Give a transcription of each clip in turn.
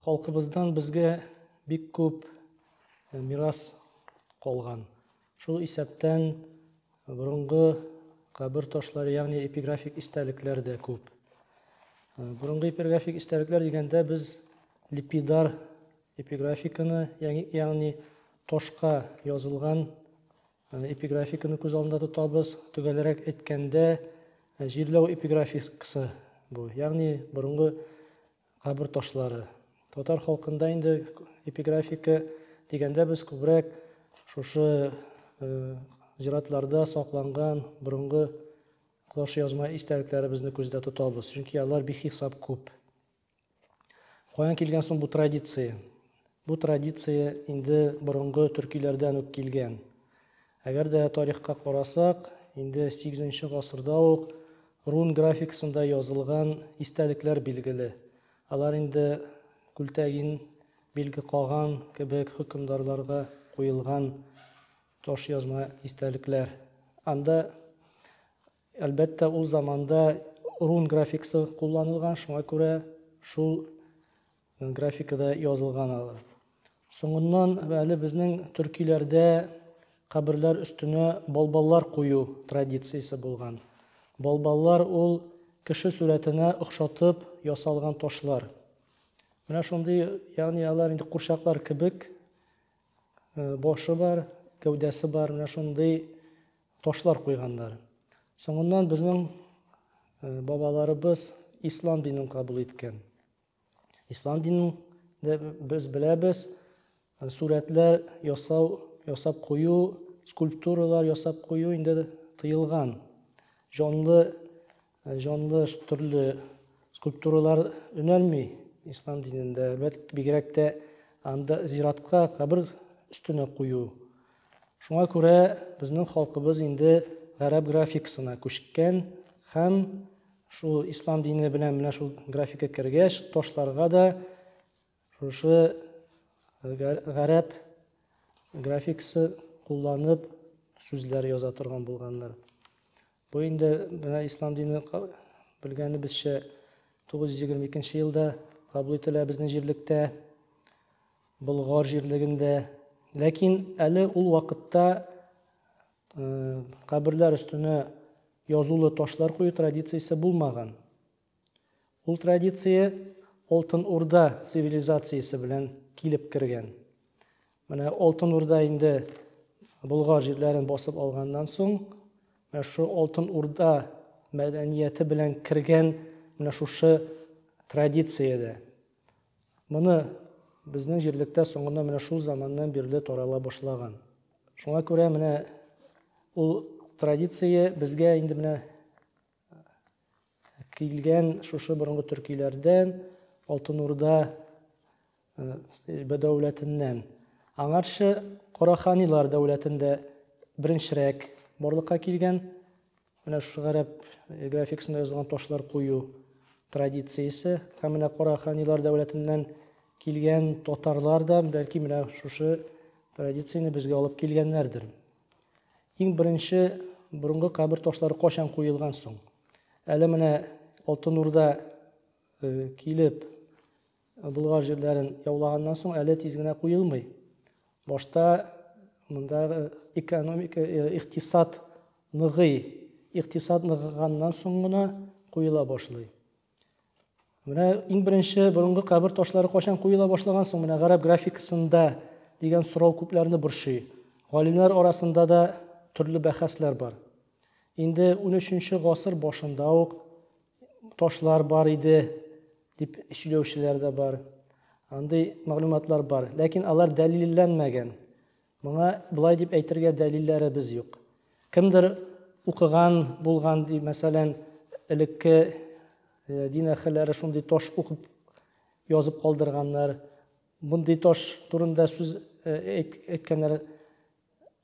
Халкыбыздан безгә бик күп э, мирас калган. Шул исәптән э, борынгы кабер ташлары, ягъни эпиграфик истәлекләр дә күп. Э, борынгы эпиграфик истәлекләр дигәндә без липидар эпиграфиканы, ягъни ташка язылган Аны эпиграфиканы күз алдында тотабыз. Төгәлрәк әйткәндә, җирләү эпиграфикасы бу. Ягъни борынгы кабер ташлары. Татар халкында инде эпиграфика дигәндә без күбрәк шушы зиратларда сакланган борынгы кош язма истәлекләребезне күздә тотабыз, чөнки алар бихисап күп. Каян килгән соң бу традиция? Бу традиция инде борынгы төркиләрдән үк килгән. Әгәр дә тарихка карасак, инде 8 гасырда ук рун графикасында язылган истәлекләр билгеле. Алар инде күлтәгин билге каган кебек хөкемдарларга куелган таш язма истәлекләр. Анда Әлбәттә, ул заманда рун графикасы кулланылган, шуңа күрә шул графикада язылган алар. Соңыннан әле безнең төркиләрдә каберләр өстенә балбаллар кую традициясе булган. Балбаллар ул кеше сурәтенә охшатып ясалган ташлар. Менә шундый, ягъни алар инде курчаклар кебек э, башы бар, гәүдәсе бар, менә шундый Ташлар куйганнар. Соңыннан безнең бабаларыбыз ислам динен кабул иткән. Ислам динен без беләбез, сурәтләр ясау, ясап кую, скульптуралар ясап кую инде тыелган. Җанлы Ә җанлы төрле скульптуралар өнәлми ислам динендә. Әлбәттә, бигрәк тә анда зиратка кабер өстенә кую. Шуңа күрә безнең халкыбыз инде гарәп графикасына күчкән һәм шул ислам дине белән менә шул графика кергәч, ташларга да Шушы гарәп графикасы кулланып сүзләр яза торган булганнар. Бу инде менә ислам дине белгәнебезчә 922 елда кабул ителә безнең җирлектә, Болгар җирлегендә. Ләкин әле ул вакытта э, каберләр өстенә язулы ташлар кую традициясе булмаган. Ул традиция Алтын Урда цивилизациясе белән килеп кергән. Менә Алтын Урда инде Болгар җирләрен басып алганнан соң, менә шу Алтын Урда мәдәнияте белән кергән менә шушы традициядә. Моны безнең җирлектә соңына менә шул заманнан бирле тарала башлаган. Шуңа күрә менә ул традиция безгә инде менә Килгән шушы борынгы төркиләрдән, Алтын Урда э, дәүләтеннән. Аңарчы Кораханилар дәүләтендә беренчерәк барлыкка килгән менә шушы гарәп э, графикасында язылган ташлар кую традициясе һәм менә Кораханилар дәүләтеннән килгән татарлар да бәлки менә шушы традицияне безгә алып килгәннәрдер. Иң беренче борынгы кабер ташлары качан куелган соң? Әле менә Алтын Урда э, килеп Болгар җирләрен яулаганнан соң әле тиз генә куелмый. Башта мында экономика, э, иктисад ныгый, иктисад ныгыганнан соң гына куела башлый. Менә иң беренче борынгы кабер ташлары кайчан куела башлаган соң? Менә гарәп графикасында дигән сорау күпләрне борчый. Галимнәр арасында да төрле бәхәсләр бар. Инде 13-нче гасыр башында ук ташлар бар иде дип сөйләүчеләр дә бар. Андый мәгълүматлар бар, ләкин алар дәлилләнмәгән. Моңа болай дип әйтергә дәлилләребез юк. Кемдер укыган булган ди, мәсәлән, элекке дин әһелләре шундый таш укып язып калдырганнар. Мондый таш турында сүз әйткәннәр.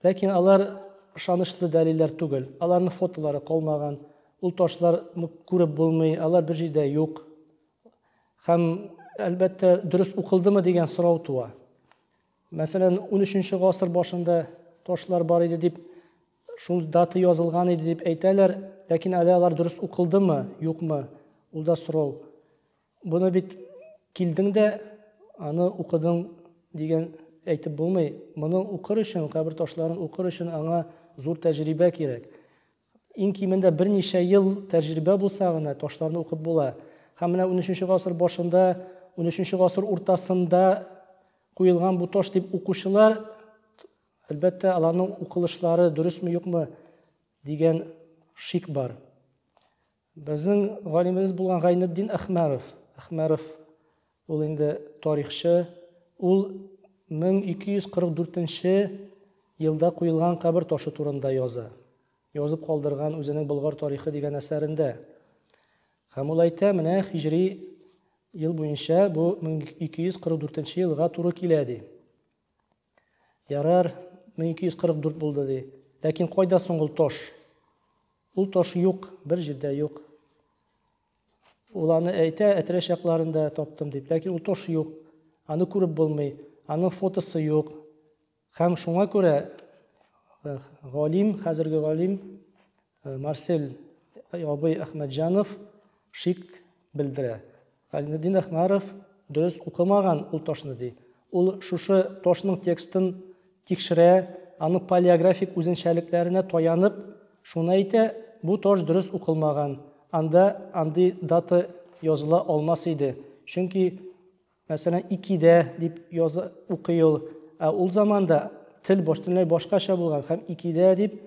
Ләкин алар ышанычлы дәлилләр түгел. Аларның фотолары калмаган. Ул ташлар күреп булмый, алар бер җирдә юк. Һәм, әлбәттә, дөрес укылдымы дигән сорау туа. Мәсәлән, унөченче гасыр башында ташлар бар иде дип, шул дата язылган иде дип әйтәләр, ләкин әле алар дөрес укылдымы, юкмы, ул да сорау. Буны бит килдең дә, аны укыдың дигән әйтеп булмый. Моны укыр өчен, кабер ташларын укыр өчен аңа зур тәҗрибә кирәк. Иң кимендә берничә ел тәҗрибә булса гына ташларны укып була. Һәм менә унөченче гасыр башында, унөченче гасыр уртасында Куелган бу таш дип укучылар, әлбәттә, аларның укылышлары дөресме, юкмы дигән шик бар. Безнең галимебез булган Гайнетдин Әхмәров, Әхмәров ул инде тарихчы, ул 1244 елда куелган кабер ташы турында яза. Язып калдырган үзенең Болгар тарихы дигән әсәрендә. Һәм ул әйтә, менә хиҗри ел буенча бу 1244 нче елга туры килә, ди. Ярар, 1244 булды, ди. Ләкин кайда соң ул таш? Ул таш юк, бер җирдә юк. Ул аны әйтә, әтрәш якларында таптым дип, ләкин ул таш юк. Аны күреп булмый, аның фотосы юк. Һәм шуңа күрә галим, хәзерге галим Марсель абый Әхмәтҗанов шик белдерә. Гайнетдин Әхмәров дөрес укымаган ул ташны ди. Ул шушы ташның текстын тикшерә, аның палеографик үзенчәлекләренә таянып, шуны әйтә, бу таш дөрес укылмаган, анда андый дата языла алмас иде, чөнки Мәсәлән, икедә дип яза, укый ул. Ә ул заманда тел бөтенләй башкача булган һәм икедә дип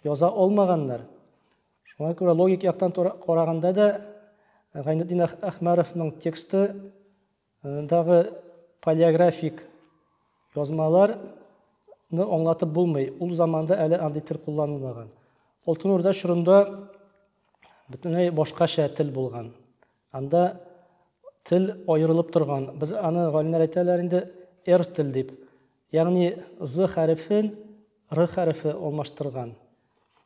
яза алмаганнар. Шуңа күрә логик яктан караганда да Гайнетдин Әхмәровның тексты дагы палеографик язмалар ны аңлатып булмый. Ул заманда әле андый тел кулланылмаган. Алтын Урда чорында бөтенләй башкача тел булган. Анда тел аерылып торган, без аны галимнәр әйтәләр инде р тел дип. Ягъни з хәрефен р хәрефе алмаштырган.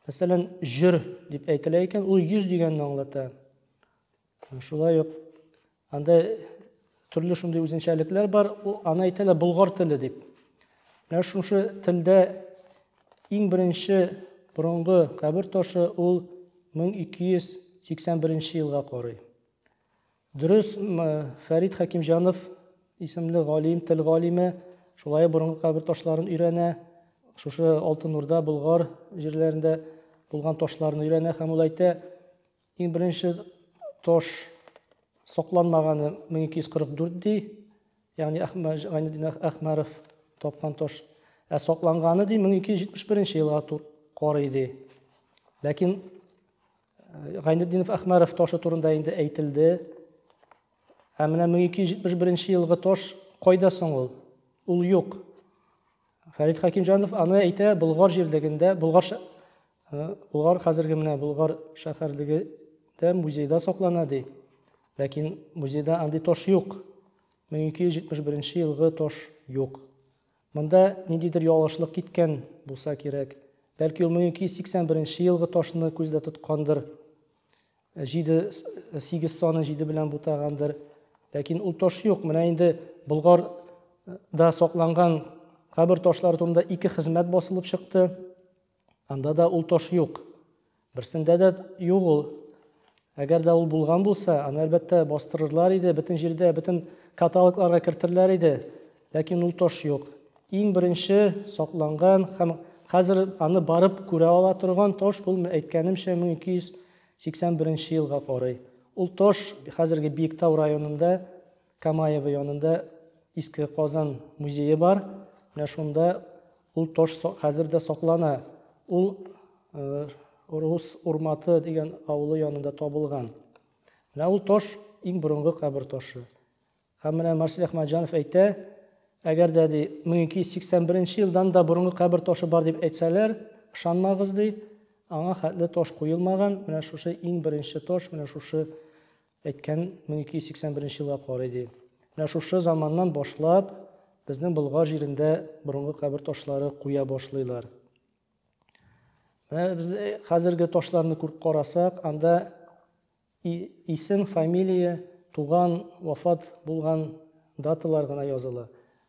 Мәсәлән, җөр дип әйтелә икән, ул йөз дигәнне аңлата. Шулай ук анда Төрле шундый үзенчәлекләр бар. Аны әйтәләр болгар теле дип. Менә шушы телдә иң беренче борынгы кабер ташы ул 1281 елга карый. Дөрес, Фәрид Хәкимҗанов исемле галим, тел галиме, шулай борынгы кабер ташларын өйрәнә. Шушы Алтын Урда, Болгар җирләрендә булган ташларны өйрәнә һәм ул әйтә, Иң беренче таш сокланмаганы 1244 ди, ягъни Гайнеддин Әхмәров тапкан таш. Ә сокланганы ди 1271 елга карый ди. Ләкин э, Гайнеддинов Әхмәров ташы турында инде әйтелде. Ә менә 1271 елгы таш кайда соң ул? Ул юк. Фәрит Хакимҗанов аны әйтә Болгар җирлегендә, Болгар Э, Болгар хәзерге менә Болгар шәһәрлегендә музейда саклана ди. Ләкин музейда андый тош юк. 1271 елгы тош юк. Монда ниндидер ялгышлык киткән булса кирәк. Бәлки ул 1281 елгы ташны күздә тоткандыр. 7 8 саны 7 белән бутагандыр. Ләкин ул таш юк. Менә инде Болгар да сакланган кабер ташлары турында ике хезмәт басылып чыкты. Анда да ул тош юк. Берсендә дә юк ул. Әгәр дә ул булган булса, аны әлбәттә бастырырлар иде, бөтен җирдә, бөтен каталогларга кертерләр иде. Ләкин ул тош юк. Иң беренче сакланган һәм хәзер аны барып күрә ала торган тош ул әйткәнемчә 1281 елга карый. Ул тош хәзерге Биектау районында Камаево янында Иске Казан музее бар. Менә шунда ул таш хәзер дә саклана. Ул э, Рус Урматы дигән авылы янында табылган. Менә ул таш иң борынгы кабер ташы. Һәм менә Марсель Ахмаджанов әйтә, әгәр дә ди 1281 елдан да борынгы кабер ташы бар дип әйтсәләр, ышанмагыз ди, аңа хәтле таш куелмаган, менә шушы иң беренче таш, менә шушы Әйткән 1281 елга карый ди. Менә шушы заманнан башлап безнең Болгар җирендә борынгы кабер ташлары куя башлыйлар. Менә без хәзерге ташларны күреп карасак, анда исем, фамилия, туган, вафат булган даталар гына языла.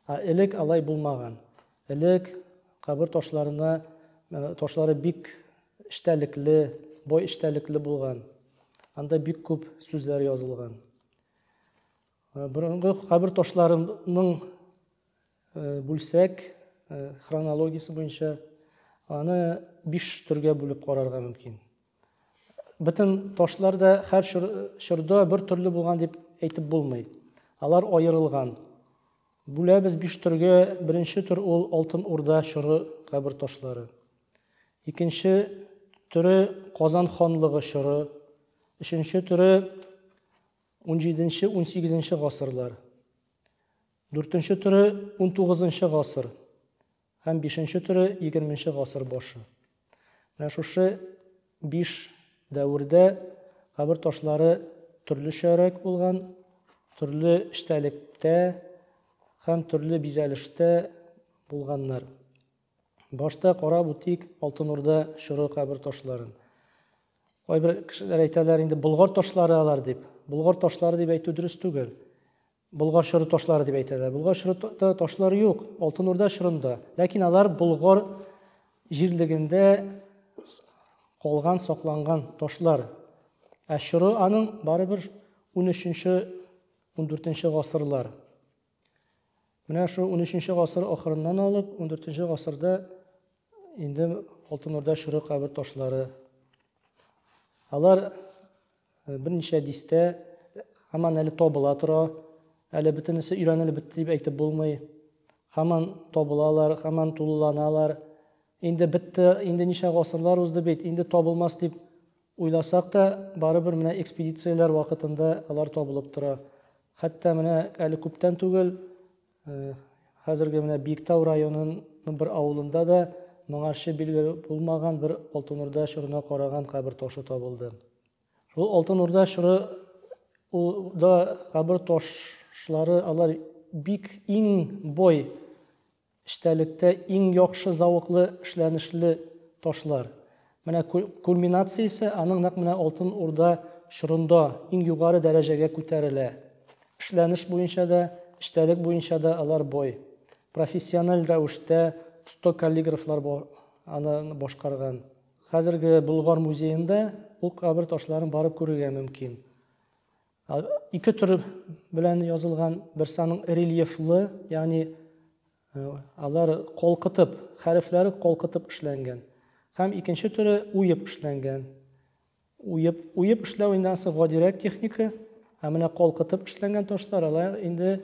Ә элек алай булмаган. Элек кабер ташларына ташлары бик эчтәлекле, бай эчтәлекле булган. Анда бик күп сүзләр язылган. Э, борынгы кабер ташларының э, бүлсәк э, хронологиясе буенча аны биш төргә бүлеп карарга мөмкин. Бөтен ташлар да һәр чорда бер төрле булган дип әйтеп булмый. Алар аерылган. Бүләбез биш төргә, беренче төр ул Алтын Урда чоры кабер ташлары. Икенче төре Казан ханлыгы чоры, өченче төре 17-18 гасырлар. Дүртенче төре 19 гасыр. Һәм бишенче төре, егерменче гасыр башы. Менә шушы биш дәвердә кабер ташлары төрлечәрәк булган, төрле эчтәлектә һәм төрле бизәлештә булганнар. Башта карап үтик Алтын Урда чоры кабер ташларын. Кайбер кешеләр әйтәләр инде болгар ташлары алар дип. Болгар ташлары дип әйтү дөрес түгел. Болгар чоры ташлары дип әйтәләр. Болгар чоры ташлары юк, Алтын Урда чорында. Ләкин алар Болгар җирлегендә калган, сакланган ташлар. Ә чоры аның барыбер 13-нче, 14-нче гасырлар. Менә шул 13-нче гасыр ахырыннан алып 14-нче гасырда инде Алтын Урда чоры кабер ташлары. Алар Берничә дистә һаман әле табыла тора. Әле бөтенесе өйрәнелеп бетте дип әйтеп булмый. Һаман табылалар, һаман тулыланалар. Инде бетте, инде ничә гасырлар узды бит, инде табылмас дип уйласак та, барыбер менә экспедицияләр вакытында алар табылып тора. Хәтта менә әле күптән түгел Хәзерге менә Биектау районының бер авылында да моңарчы билге булмаган бер Алтын Урда чорына караган кабер ташы табылды. Шул Алтын Урда чоры да кабер ташлары алар бик иң бой эчтәлектә иң яхшы завыклы эшләнешле ташлар. Менә кульминациясе аның нәкъ менә Алтын Урда чорында иң югары дәрәҗәгә күтәрелә. Эшләнеш буенча да, эчтәлек буенча да алар бай. Профессиональ рәвештә оста каллиграфлар бар аны башкарган. Хәзерге Болгар музеенда ул кабер ташларын барып күрергә мөмкин. Ике төр белән язылган, берсе аның рельефлы, ягъни Э, алар колкытып, хәрефләре колкытып эшләнгән. Һәм икенче төре уеп эшләнгән. Уеп, уеп эшләү инде ансы гадирәк техника, ә менә колкытып эшләнгән ташлар алар инде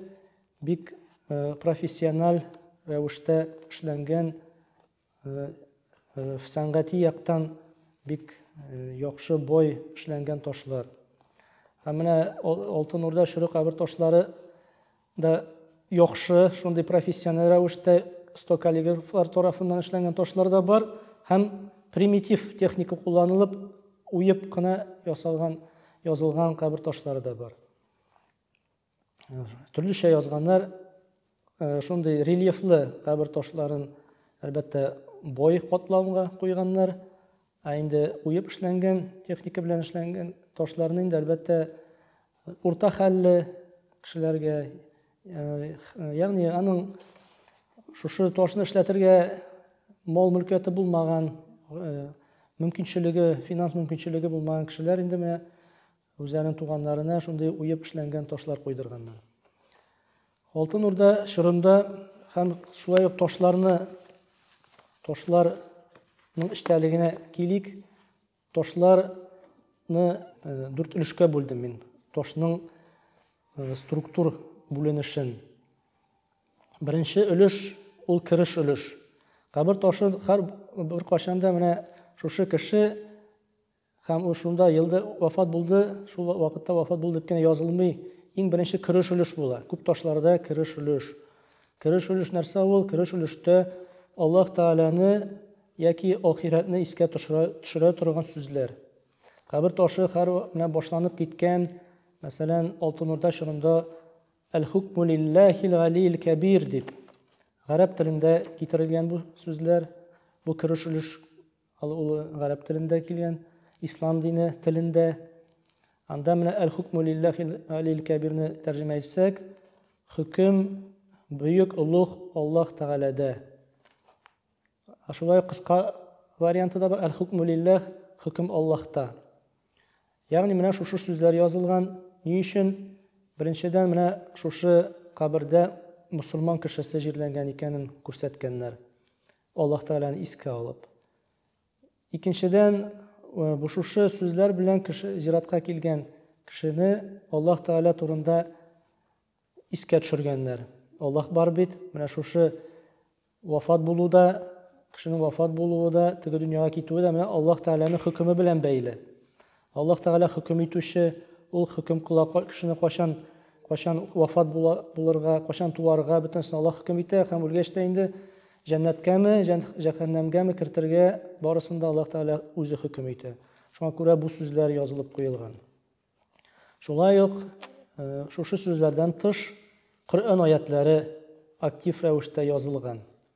бик э, профессиональ рәвештә эшләнгән Сәнгати яктан бик яхшы бой эшләнгән ташлар. Ә менә Алтын Урда шөрү кабер ташлары да яхшы, шундый профессиональ рәвештә стокаллиграфлар тарафыннан эшләнгән ташлар да бар һәм примитив техника кулланылып уеп кына ясалган язылган кабер ташлары да бар. төрлечә язганнар э, шундый рельефлы кабер ташларын әлбәттә бой катламга куйганнар ә инде уеп эшләнгән техника белән эшләнгән ташларны инде әлбәттә урта хәлле кешеләргә э, ягъни аның шушы ташны эшләтергә мал мөлкәте булмаган э, мөмкинчелеге финанс мөмкинчелеге булмаган кешеләр инде менә Үзләренең туганнарына шундый уеп эшләнгән ташлар куйдырганнар. Алтын Урда чорында һәм шулай ук ташларны ташларның эчтәлегенә килик. Ташларны э, дүрт өлешкә бүлдем мин. Ташның э, структур бүленешен. Беренче өлеш ул кереш өлеш. Кабер ташы һәр бер кашанда менә шушы кеше Һәм ул шунда елда вафат булды, шул вакытта вафат булды дип кенә язылмый. Иң беренче кереш өлеш була. Күп ташларда кереш өлеш. Кереш өлеш нәрсә ул? Кереш өлештә Аллаһ Тәгаләне яки ахирәтне искә төшерә, төшерә торган сүзләр. Кабер ташы хәр менә башланып киткән, мәсәлән, Алтын Урда чорында Әл-хукму лиллахил галил кәбир дип гарәп телендә китерелгән бу сүзләр. Бу кереш өлеш Ал улы гарәп телендә килгән, ислам дине телендә. Анда менә әл-хукму лиллахи алил кәбирне тәрҗемә итсәк, хөкем бөек олуг Аллаһ Тәгаләдә. Шулай кыска варианты да бар, әл-хукму лиллах, хөкем Аллаһта. Ягъни менә шушы сүзләр язылган. Ни өчен? Беренчедән менә шушы кабердә мусульман кешесе җирләнгән икәнен күрсәткәннәр. Аллаһ Тәгаләне искә алып. Икенчедән, бу шушы сүзләр белән кеше зиратка килгән кешене Аллаһ Тәгалә турында искә төшергәннәр. Аллаһ бар бит, менә шушы вафат булу да, кешенең вафат булуы да, теге дөньяга китүе дә менә Аллаһ Тәгаләнең хөкеме белән бәйле. Аллаһ Тәгалә хөкем итүче, Ул хөкем кыла, кешене кайчан, кайчан вафат була, булырга, кайчан туарга, бөтенесен Аллаһ хөкем итә һәм үлгәч тә инде җәннәткәме, җәһәннәмгәме кертергә, барысын да Аллаһ Тәгалә үзе хөкем итә. Шуңа күрә бу сүзләр язылып куелган. Шулай ук э, шушы сүзләрдән тыш Коръән аятләре актив рәвештә язылган.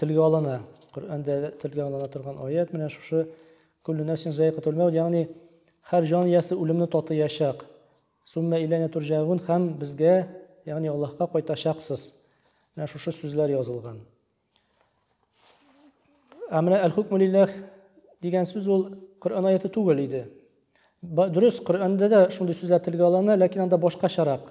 Телгә алына. Коръәндә телгә алына торган аят менә шушы кулле нәфсин заикатул мәут, ягъни һәр җан иясе үлемне татыячак. Сумма иләнә турҗагун һәм безгә, ягъни Аллаһка кайтачаксыз. Менә шушы сүзләр язылган. Ә менә әл-хукму лиллах дигән сүз ул Коръән аяты түгел иде. Дөрес, Коръәндә дә шундый сүзләр телгә алына, ләкин анда башкачарак.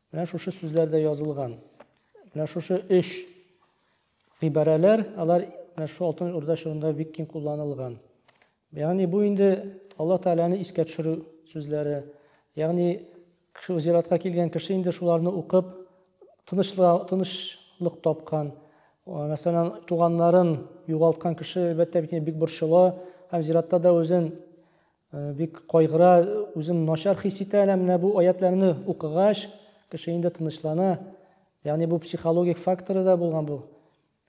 Менә шушы сүзләрдә язылган. Менә шушы өч гыйбарәләр, алар менә шушы алтын урда чорында бик киң кулланылган. Ягъни бу инде Алла Тәгаләне искә төшерү сүзләре. Ягъни кеше зиратка килгән кеше инде шуларны укып тынычлык тынычлык тапкан. Мәсәлән, туганнарын югалткан кеше әлбәттә бик бик борчыла һәм зиратта да үзен Э, бик кайгыра, үзен начар хис итә әнә менә бу аятләрне укыгач, кеше инде тынычлана. Ягъни бу психологик факторы да булган бу.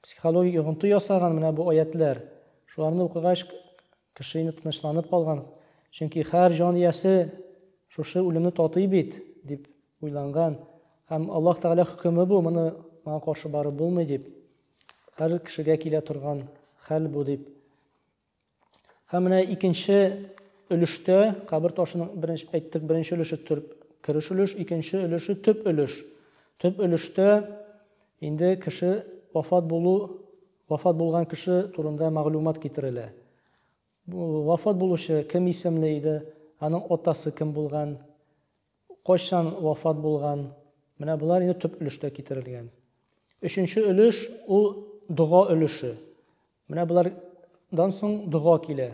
Психологик йогынты ясаган менә бу аятләр. Шуларны укыгач, кеше инде тынычланып калган. Чөнки һәр җан иясе шушы үлемне татый бит, дип уйланган. Һәм Аллаһ Тәгалә хөкеме бу, моны маңа каршы барып булмый дип. Һәр кешегә килә торган хәл бу дип Һәм менә икенче өлештә кабер ташының беренче әйттек, беренче өлеше төрп кереш өлеш, икенче өлеше төп өлеш. Төп өлештә инде кеше вафат булу, вафат булган кеше турында мәгълүмат китерелә. Вафат булучы кем исемле иде, аның атасы кем булган, Кайчан вафат булган? Менә болар инде төп өлештә китерелгән. Өченче өлеш ул дога өлеше. Менә болардан соң дога килә.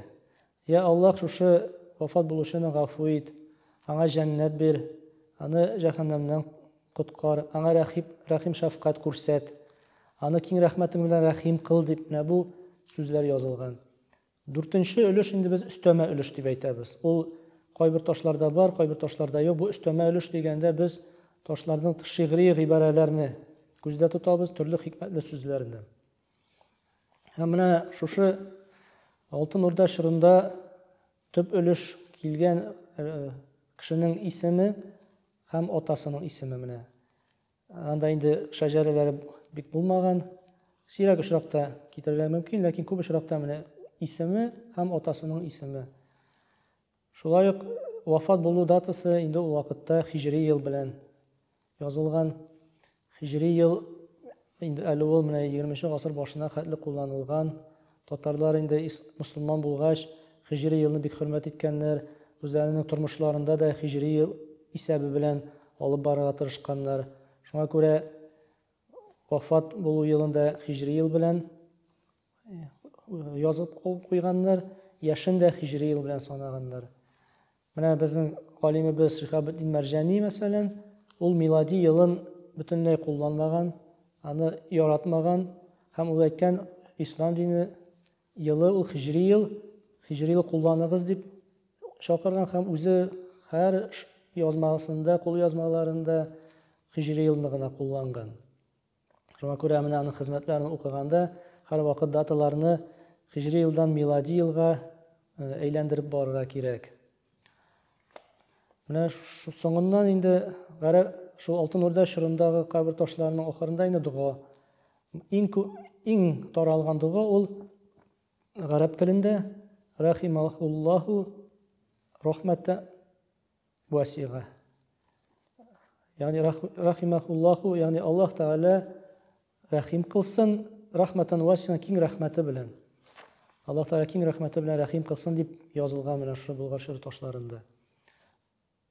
Я Аллаһ, шушы вафат булучыны гафу ит, аңа җәннәт бир, аны җәһәннәмнән коткар, аңа рәхип, рәхим шәфкать күрсәт, аны киң рәхмәтең белән рәхим кыл дип менә бу сүзләр язылган. Дүртенче өлеш инде без өстәмә өлеш дип әйтәбез. Ул кайбер ташларда бар, кайбер ташларда юк. Бу өстәмә өлеш дигәндә без ташларның шигъри гыйбарәләрне күздә тотабыз, төрле хикмәтле сүзләрне. Һәм менә шушы Алтын Урда чорында төп өлеш килгән кешенең исеме һәм атасының исеме менә. Анда инде шәҗәрәләре бик булмаган. Сирәк очракта китерергә мөмкин, ләкин күп очракта менә исеме һәм атасының исеме. Шулай ук вафат булу датасы инде ул вакытта хиҗри ел белән язылган. Хиҗри ел инде әле ул менә 20 нче гасыр башына хәтле кулланылган. Татарлар инде ис мосылман булгач, хиҗри елны бик хөрмәт иткәннәр, үзләренең тормышларында да хиҗри ел исәбе белән алып барырга тырышканнар. Шуңа күрә вафат булу елын да хиҗри ел белән язып куйганнар, яшен дә хиҗри ел белән санаганнар. Менә безнең галимебез Шихабетдин Мәрҗани, мәсәлән, ул милади елын бөтенләй кулланмаган, аны яратмаган һәм ул әйткән, ислам дине елы ул хиҗри ел, хиҗри ел кулланыгыз дип чакырган һәм үзе һәр язмасында, кулъязмаларында хиҗри елны гына кулланган. Шуңа күрә менә аның хезмәтләрен укыганда һәрвакыт даталарны хижри елдан милади елга э, әйләндереп барырга кирәк. Менә соңыннан инде гарә шул Алтын Урда чорындагы кабер ташларының ахырында инде дога. Иң иң таралган дога ул гарәп телендә рахималлаху рахмәттә васига. Ягъни рахимахуллаху, ягъни Аллаһ Тәгалә рәхим кылсын, рахматан васина киң рәхмәте белән. Аллаһ Тәгалә киң рәхмәте белән рәхим кылсын дип язылган менә шул Болгар шигырь ташларында.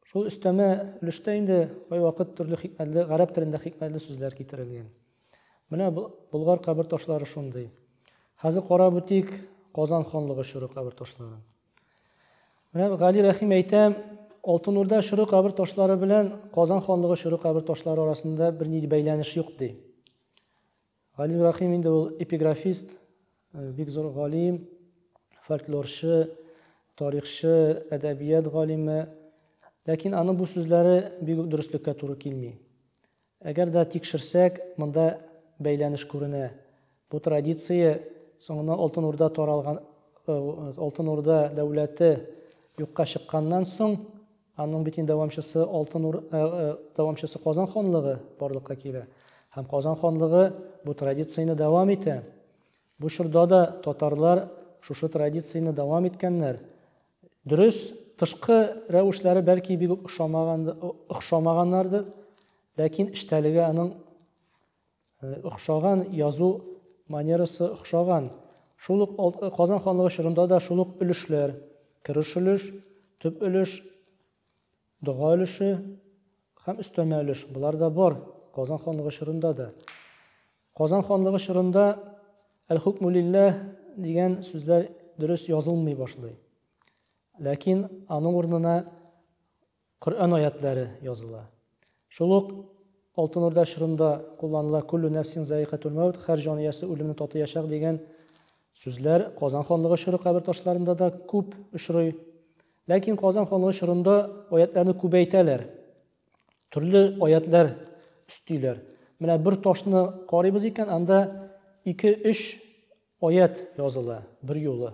Шул өстәмә өлештә инде кайвакыт төрле хикмәтле, гарәп телендә хикмәтле сүзләр китерелгән. Менә Болгар кабер ташлары шундый. Хәзер карап үтик Казан ханлыгы чоры кабер ташларын. Менә Гали Рәхим әйтә, Алтын Урда чоры кабер ташлары белән Казан ханлыгы чоры кабер ташлары арасында бер ни бәйләнеш юк ди. Гали Рәхим инде ул эпиграфист, э, бик зур галим, фольклорчы, тарихчы, әдәбият галиме. Ләкин аның бу сүзләре бик дөреслеккә туры килми. Әгәр дә тикшерсәк, монда бәйләнеш күренә. Бу традиция соңыннан Алтын Урда таралган, Алтын Урда дәүләте юкка чыкканнан соң, аның бит инде дәвамчысы Алтын Ур, дәвамчысы Казан ханлыгы барлыкка килә. Һәм Казан ханлыгы бу традицияне дәвам итә. Бу чорда да татарлар шушы традицияне дәвам иткәннәр. Дөрес, тышкы рәвешләре бәлки бик үк охшамагандыр, ләкин эчтәлеге аның охшаган, язу манерасы охшаган. Шул ук Казан ханлыгы чорында да шул ук өлешләр, кереш өлеш, төп өлеш, Дога өлеше һәм өстәмә өлеш, болар да бар Казан ханлыгы чорында да. Казан ханлыгы чорында Әл-хукму лилләһ дигән сүзләр дөрес язылмый башлый. Ләкин аның урынына Коръән аятләре языла. Шул ук Алтын Урда чорында кулланыла Куллю нәфсин заикатул мәүт, хәр җан иясе үлемне татыячак дигән сүзләр Казан ханлыгы чоры кабер ташларында да күп очрый. Ләкин Казан ханлыгы чорында аятьләрне күбәйтәләр. Төрле аятьләр өстиләр. Менә бер ташны карыйбыз икән, анда ике-өч аят языла бер юлы.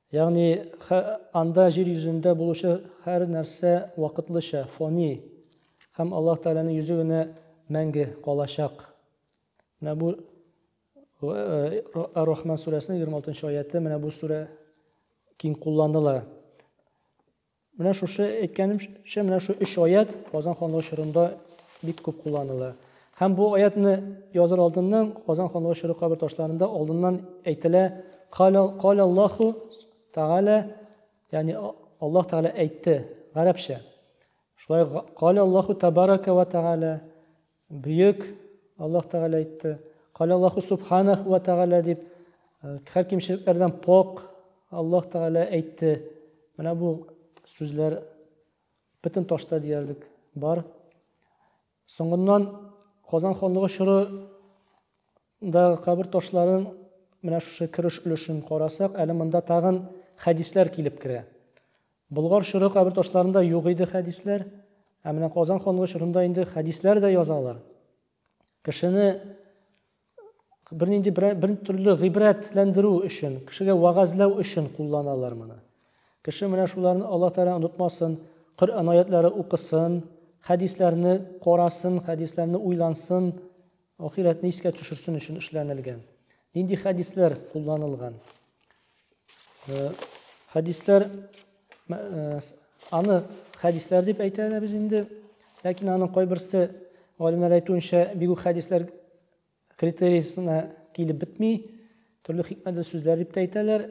Ягъни анда җир йөзендә булучы һәр нәрсә вакытлыча, фони һәм Аллаһ Тәгаләнең йөзе генә мәңге калачак. Менә бу Ар-Рахман сүрәсенең 26 нчы аяты, менә бу сүрә киң кулланыла. Менә шушы әйткәнемчә, менә шу өч аят Казан ханлыгы чорында бик күп кулланыла. Һәм бу аятны языр алдыннан Казан ханлыгы чоры кабер ташларында алдыннан әйтелә Каля Аллаху Тәгалә, ягъни Аллаһ Тәгалә әйтте, гарәпчә. Шулай Каля Аллаху Тәбарәкә вә Тәгалә, Бөек Аллаһ Тәгалә әйтте. Калә Аллаһу Субханах вә Тәгалә дип һәр кимчелекләрдән пок Аллаһ Тәгалә әйтте. Менә бу сүзләр бөтен ташта диярлек бар. Соңыннан Казан ханлыгы чоры Мондагы кабер ташларын, менә шушы кереш өлешен карасак, әле монда тагын хәдисләр килеп керә. Болгар чоры кабер ташларында юк иде хәдисләр, ә менә Казан ханлыгы чорында инде хәдисләр дә язалар. Кешене бернинди бер төрле гыйбрәтләндерү өчен, кешегә вагазлау өчен кулланалар моны. Кеше менә шуларны Алла Тәгалә онытмасын, Коръән аятлары укысын, хәдисләрне карасын, хәдисләрне уйлансын, Ахирәтне искә төшерсен өчен эшләнелгән. Нинди хәдисләр кулланылган? Э, хәдисләр э, аны хәдисләр дип әйтә без инде. Ләкин аның кайберсе галимнәр әйтүенчә бигү хәдисләр критериясенә килеп бетми. Төрле хикмәтле сүзләр дип әйтәләр.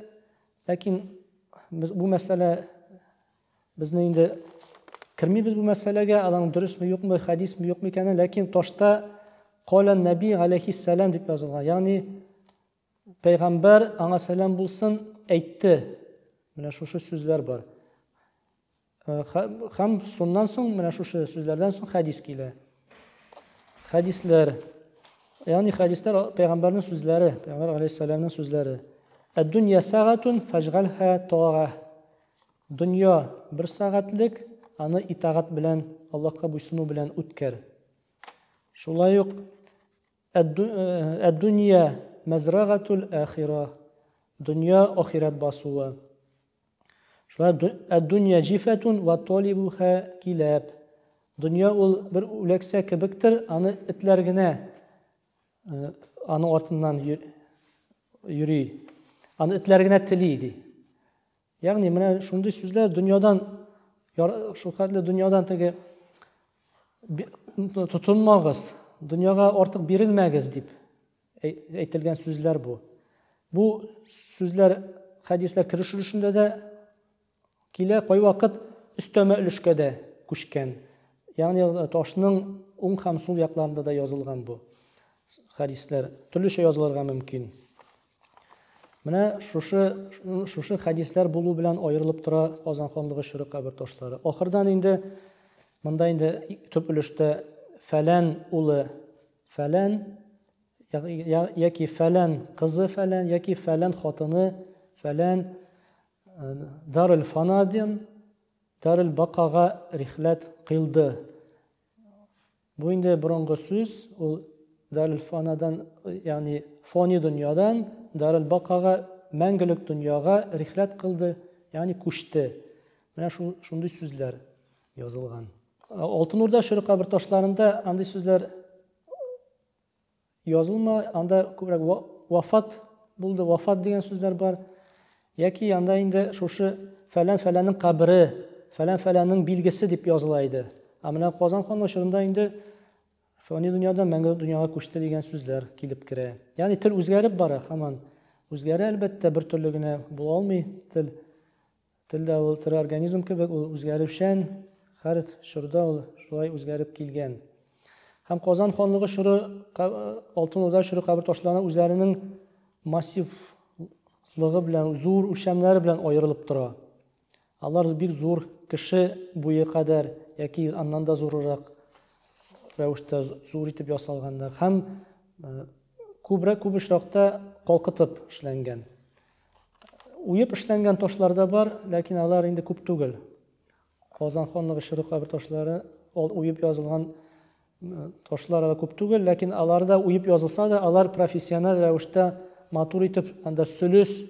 Ләкин бу мәсьәлә Безне инде кермибез бу мәсьәләгә, аның дөресме, юкмы, хәдисме, юкмы икәнен, ләкин ташта Коля Наби алейхиссалам дип язылган. Ягъни пәйгамбәр аңа сәлам булсын, әйтте. Менә шушы сүзләр бар. Хәм шуннан соң менә шушы сүзләрдән соң хәдис килә. Хәдисләр, ягъни хәдисләр пәйгамбәрнең сүзләре, пәйгамбәр алейхиссаламның сүзләре. Әд-дөнья сагатун фажгалха тора. Дөнья, бер сәгатьлек, аны итагать белән, Аллаһка буйсыну белән үткәр. Шулай ук Әд-дөнья мәзрагатул ахира. Дөнья ахират басуы. Шулай Әд-дөнья җифәтун ва талибуха киләп. Дөнья ул бер үләксә кебектер, аны этләр генә аны артыннан йөри. Аны этләр генә тели ди. Ягъни менә шундый сүзләр дөньядан шул хәтле дөньядан теге тотынмагыз, дөньяга артык бирелмәгез дип әйтелгән сүзләр бу. Бу сүзләр хәдисләр кереш өлешендә дә килә, кайвакыт өстәмә өлешкә дә күчкән. Ягъни ташның уң һәм сул якларында да язылган бу хәдисләр. Төрлечә язылырга мөмкин. Менә шушы шушы хәдисләр булу белән аерылып тора Казан ханлыгы чоры кабер ташлары. Ахырдан инде монда инде төп өлештә фәлән улы фәлән яки фәлән кызы фәлән яки фәлән хатыны фәлән э, дарыл фанадин дарыл бакага рихләт кылды Бу инде борынгы сүз, ул Дарелфанадан, ягъни фани дөньядан Дарелбакага, мәңгелек дөньяга рихләт кылды, ягъни күчте. Менә шул шундый сүзләр язылган. Алтын Урда чоры кабер ташларында андый сүзләр Язылма, анда күбрәк вафат булды, вафат дигән сүзләр бар. Яки анда инде шушы фәлән-фәләннең кабере, фәлән-фәләннең билгесе дип языла иде. Ә менә Казан ханлыгы чорында инде фәни дөньядан мәңге дөньяга күчте дигән сүзләр килеп керә. Ягъни тел үзгәреп бара һаман. Үзгәрә әлбәттә, бер төрле генә була алмый тел. Тел дә ул тере организм кебек, ул үзгәрүчән, һәр чорда ул шулай үзгәреп килгән. Һәм Казан ханлыгы чоры, Алтын Урда чоры кабер ташларына үзләренең массив лыгы белән зур үлчәмнәре белән аерылып тора. Алар бик зур кеше буе кадәр яки аннан да зурырак рәвештә зур итеп ясалганнар һәм күбрәк күп очракта калкытып эшләнгән. Уеп эшләнгән ташлар да бар, ләкин алар инде күп түгел. Казан ханлыгы чоры кабер ташлары ул уеп язылган ташлар да күп түгел, ләкин аларда уеп язылса да, алар профессиональ рәвештә матур итеп, анда сөлес,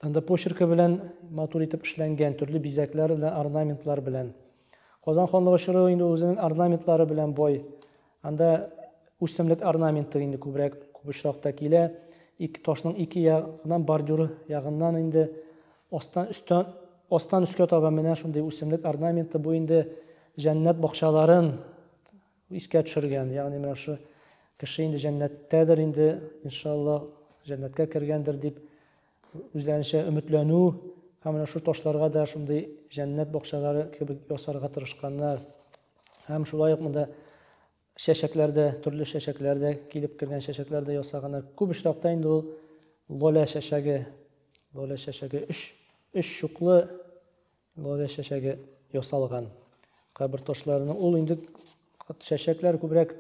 анда почеркы белән матур итеп эшләнгән, төрле бизәкләр белән, орнаментлар белән. Казан ханлыгы чоры инде үзенең орнаментлары белән бай. Анда үсемлек орнаменты инде күбрәк күп очракта килә. Ике ташның ике ягыннан бордюр ягыннан инде астан өстән астан өскә таба менә шундый үсемлек орнаменты бу инде җәннәт бакчаларын искә төшергән. Ягъни менә шушы кеше инде җәннәттәдер инде, иншалла, җәннәткә кергәндер дип үзләренчә өметләнү һәм менә шул ташларга да шундый җәннәт бакчалары кебек ясарга тырышканнар һәм шулай ук монда чәчәкләр дә төрле чәчәкләр дә килеп кергән чәчәкләр дә ясаганнар күп очракта инде ул лоля чәчәге лоля чәчәге өч өч чуклы Лоре чәчәге ясалган. Кабер ташларының ул инде чәчәкләр күбрәк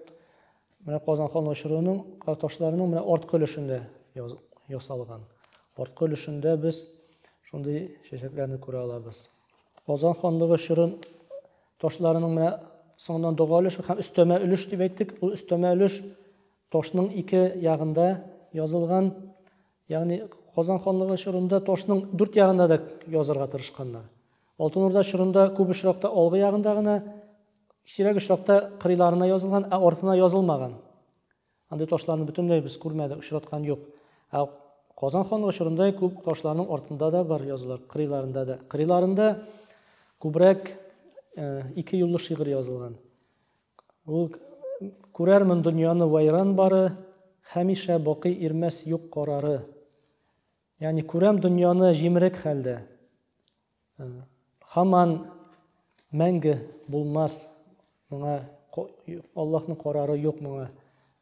менә Казан хан очыруының ташларының менә арткы өлешендә ясалган. Арткы өлешендә без шундый чәчәкләрне күрә алабыз. Казан ханлыгы чорын ташларының менә соңыннан дога өлеше һәм өстәмә өлеш дип әйттек. Ул өстәмә өлеш ташның ике ягында язылган Ягъни Казан ханлыгы чорында ташның дүрт ягында да язарга тырышканнар. Алтын Урда чорында күп очракта алгы ягында гына, сирәк очракта кырыйларына язылган, ә артына язылмаган. Андый ташларны бөтенләй без күрмәдек, очраткан юк. Ә Казан ханлыгы чорында күп ташларның артында да бар язулар, кырыйларында да. Кырыйларында күбрәк ике юллы шигырь язылган. Ул күрәрмен дөньяны вайран бары, Хәмишә бакый ирмәс юк карары. Ягъни күрәм дөньяны җимерек хәлдә. Хаман мәңге булмас моңа Аллаһның карары юк моңа.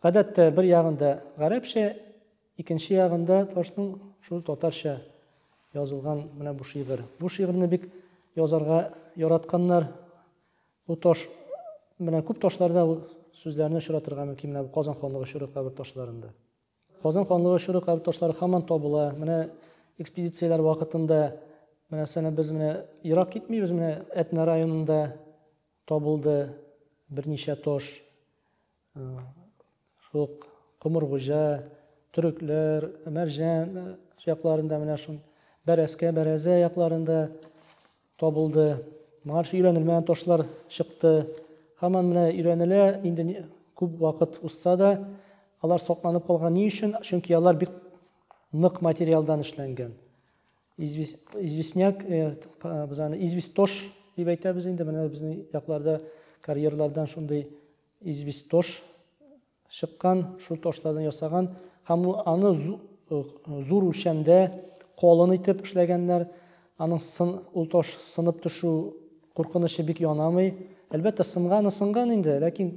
Гадәттә, бер ягында гарәпчә, икенче ягында ташның шул татарча язылган менә бу шигырь. Бу шигырьне бик язарга яратканнар. Бу таш менә күп ташларда ул сүзләрне очратырга мөмкин менә Казан ханлыгы чоры кабер ташларында. Казан ханлыгы чоры кабер ташлары һаман табыла. Менә экспедицияләр вакытында менә сәнә без менә ерак китмибез, менә Әтнә районында Табылды берничә таш. Шул ук Комыргуҗа, Төрекләр, Мәрҗән якларында менә шул Бәрәскә, Бәрәзә якларында табылды. Моңа шул өйрәнелмәгән ташлар чыкты. Һаман менә өйрәнелә, инде күп вакыт узса да, алар сакланып калган ни өчен? Чөнки алар бик нык материалдан эшләнгән. известняк э, без аны известош дип әйтәбез инде менә безнең якларда карьерлардан шундый известош чыккан шул ташлардан ясаган һәм аны э, зур үлчәмдә колын итеп эшләгәннәр аның сын ул таш сынып төшү куркынычы бик янамый әлбәттә сынганы сынган инде ләкин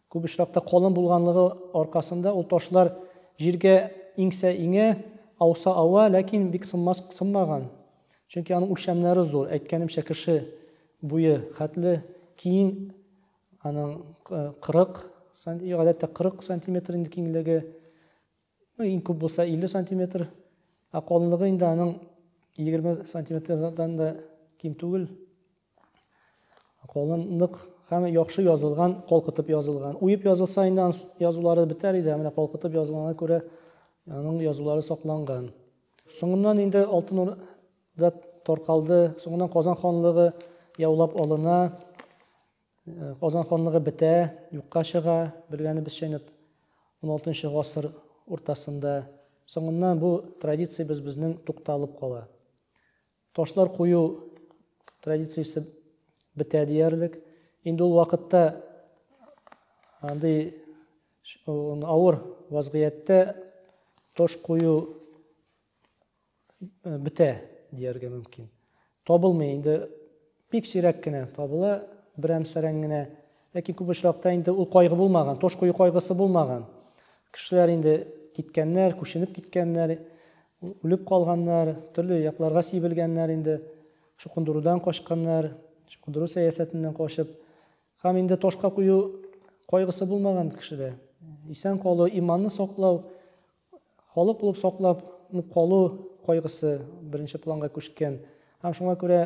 Күп очракта калын булганлыгы аркасында ул ташлар җиргә иңсә иңә, ауса ава, ләкин бик сынмас сынмаган. Чөнки аның үлчәмнәре зур, әйткәнемчә, кеше буе хәтле киң аның 40 сантиметр, гадәттә 40 сантиметр инде киңлеге. Ну, иң күп булса 50 сантиметр. Ә калынлыгы инде аның 20 сантиметрдан да ким түгел. Калынлык һәм яхшы язылган, калкытып язылган. Уеп язылса инде аның язулары бетәр иде, менә калкытып язылганга күрә аның язулары сакланган. Соңыннан инде Алтын Урда таркалды, соңыннан Казан ханлыгы яулап алына. Э, Казан ханлыгы бетә, юкка чыга, белгәнебезчә инде 16 гасыр уртасында. Соңыннан бу традициябез безнең тукталып кала. Ташлар кую традициясе бетә диярлек. Инде ул вакытта андый авыр вазгыятьтә тош кую бетә дияргә мөмкин. Табылмый инде, бик сирәк кенә табыла, берәмсәрән генә. Ләкин күп очракта инде ул кайгы булмаган, тош кую кайгысы булмаган. Кешеләр инде киткәннәр, күченеп киткәннәр, үлеп калганнар, төрле якларга сибелгәннәр инде, чукындырудан качканнар, чукындыру сәясәтеннән качып. Һәм инде ташка кую кайгысы булмаган кешедә. Исән калу, иманны саклау, Халык булып саклап калу кайгысы беренче планга күчкән. Һәм шуңа күрә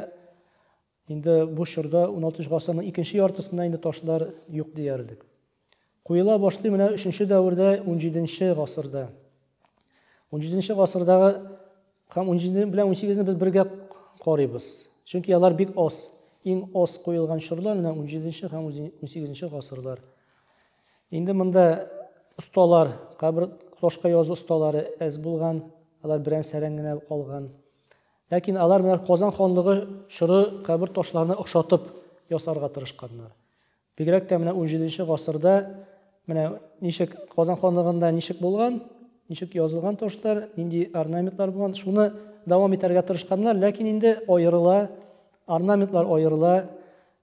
инде бу чорда уналтынчы гасырның икенче яртысында инде ташлар юк диярлек. Куела башлый менә өченче дәвердә, унҗиденче гасырда. Унҗиденче гасырдагы һәм унҗиде белән унсигезне без бергә карыйбыз. Чөнки алар бик аз. Иң аз куелган чорлар менә унҗиденче һәм унсигезенче гасырлар. Инде монда осталар, кабер флошка язу осталары әз булган, алар берән сәрән генә калган. Ләкин алар менә Казан ханлыгы чоры кабер ташларына охшатып ясарга тырышканнар. Бигрәк тә менә 17 гасырда менә ничек Казан ханлыгында ничек булган, ничек язылган ташлар, нинди орнаментлар булган, шуны дәвам итәргә тырышканнар, ләкин инде аерыла, орнаментлар аерыла,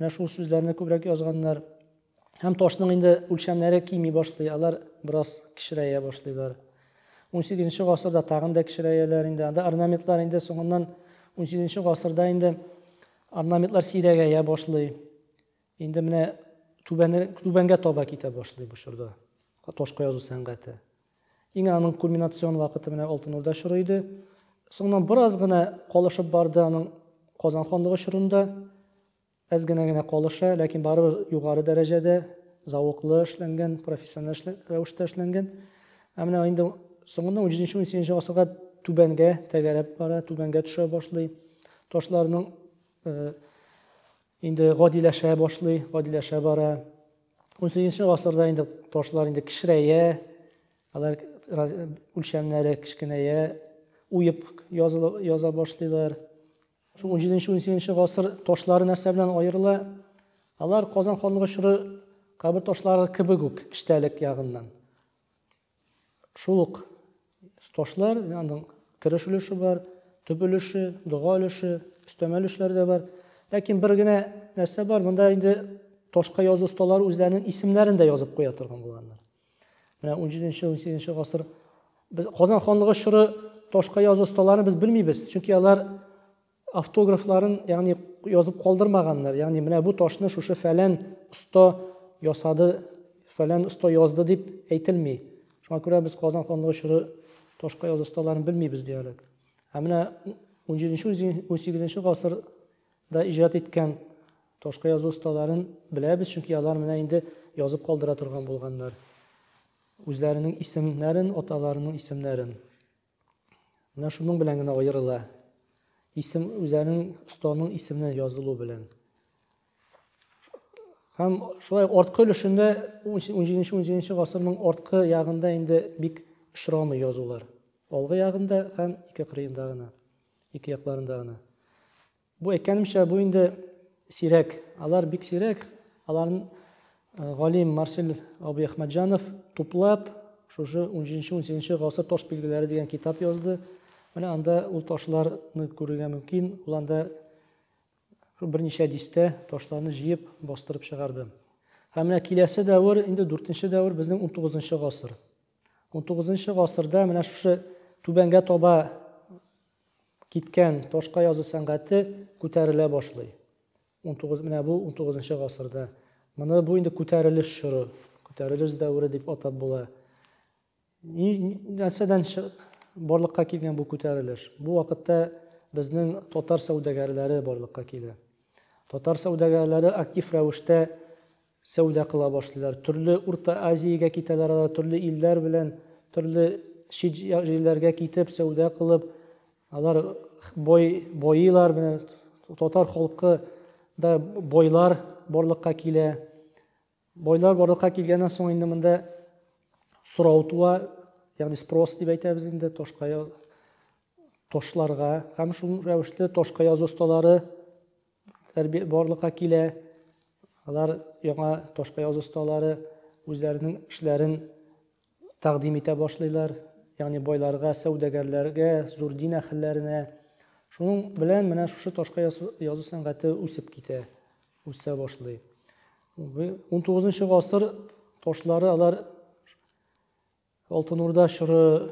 Менә шул сүзләрне күбрәк язганнар. Һәм ташның инде үлчәмнәре кими башлый, алар бераз кечерәя башлыйлар. 18 гасырда тагын да кечерәяләр инде. Анда орнаментлар инде соңыннан 18 гасырда инде орнаментлар сирәгәя башлый. Инде менә түбәнгә таба китә башлый бу чорда ташка язу сәнгате. Иң аның кульминацион вакыты менә Алтын Урда чоры иде. Соңыннан бераз гына калышып барды аның Казан ханлыгы чорында. Әз генә генә калыша, ләкин барыбер югары дәрәҗәдә, зәвыклы эшләнгән, профессиональ рәвештә эшләнгән. Ә менә инде соңыннан 17-18 гасырга түбәнгә тәгәрәп бара, түбәнгә төшә башлый. Ташларның инде гадиләшә башлый, гадиләшә бара. 18 гасырда инде ташлар инде кечерәя, алар үлчәмнәре кечкенәя, уеп яза башлыйлар. Шул 17-18 гасыр ташлары нәрсә белән аерыла? Алар Казан ханлыгы чоры кабер ташлары кебек үк, киштәлек ягыннан. Шул ук ташлар, аның кереш өлеше бар, төп өлеше, дога өлеше, өстәмә өлешләр дә бар. Ләкин бер генә нәрсә бар, монда инде ташка язу осталары үзләренең исемнәрен дә язып куя торган булганнар. Менә 17-18 гасыр без Казан ханлыгы чоры ташка язу осталарын без белмибез, чөнки алар Автографларын, ягъни язып калдырмаганнар, ягъни менә бу ташны шушы фәлән оста ясады, фәлән оста язды дип әйтелми. Шуңа күрә без Казан ханлыгы чоры ташка язу осталарын белмибез диярлек. Ә менә 17-18 гасырда иҗат иткән ташка язу осталарын беләбез, чөнки алар менә инде язып калдыра торган булганнар. Үзләренең исемнәрен, аталарының исемнәрен. Менә шуның белән генә аерыла. Исем үзенең останың исеменә язылу белән. Һәм шулай арткы өлешендә 17-18 гасырның арткы ягында инде бик очрамый язулар. Алгы ягында һәм ике кырыенда гына, ике якларында гына. Бу әйткәнемчә, бу инде сирәк. Алар бик сирәк. Аларны э, галим Марсель абый Әхмәтҗанов туплап, шушы 17-18 гасыр таш билгеләре дигән китап язды. Менә анда ул ташларны күрергә мөмкин. Ул анда берничә дистә ташларны җыеп бастырып чыгарды. Һәм менә киләсе дәвер, инде 4-нче дәвер безнең 19-нчы гасыр. 19-нчы гасырда менә шушы түбәнгә таба Киткән, ташка язу сәнгате күтәрелә башлый. Унтугыз, менә бу унтугызынчы гасырда. Моны бу инде күтәрелеш чоры, күтәрелеш дәвере дип атап була. Нәрсәдән барлыкка килгән бу күтәрелеш? Бу вакытта безнең татар сәүдәгәрләре барлыкка килә. Татар сәүдәгәрләре актив рәвештә Сәүдә кыла башлыйлар. Төрле Урта Азиягә китәләр алар, төрле илләр белән, төрле чит җирләргә китеп, сәүдә кылып, алар бай, байыйлар. Менә татар халкы да байлар барлыкка килә. Байлар барлыкка килгәннән соң инде монда сорау туа, ягъни спрос дип әйтәбез инде ташка ташларга һәм шул рәвешле ташка язу осталары барлыкка килә. Алар яңа ташка язу осталары үзләренең эшләрен тәкъдим итә башлыйлар. Ягъни байларга, сәүдәгәрләргә, зур дин әһелләренә. Шуның белән менә шушы ташка язу сәнгате үсеп китә, үсә башлый. 19 гасыр ташлары алар Алтын Урда чоры,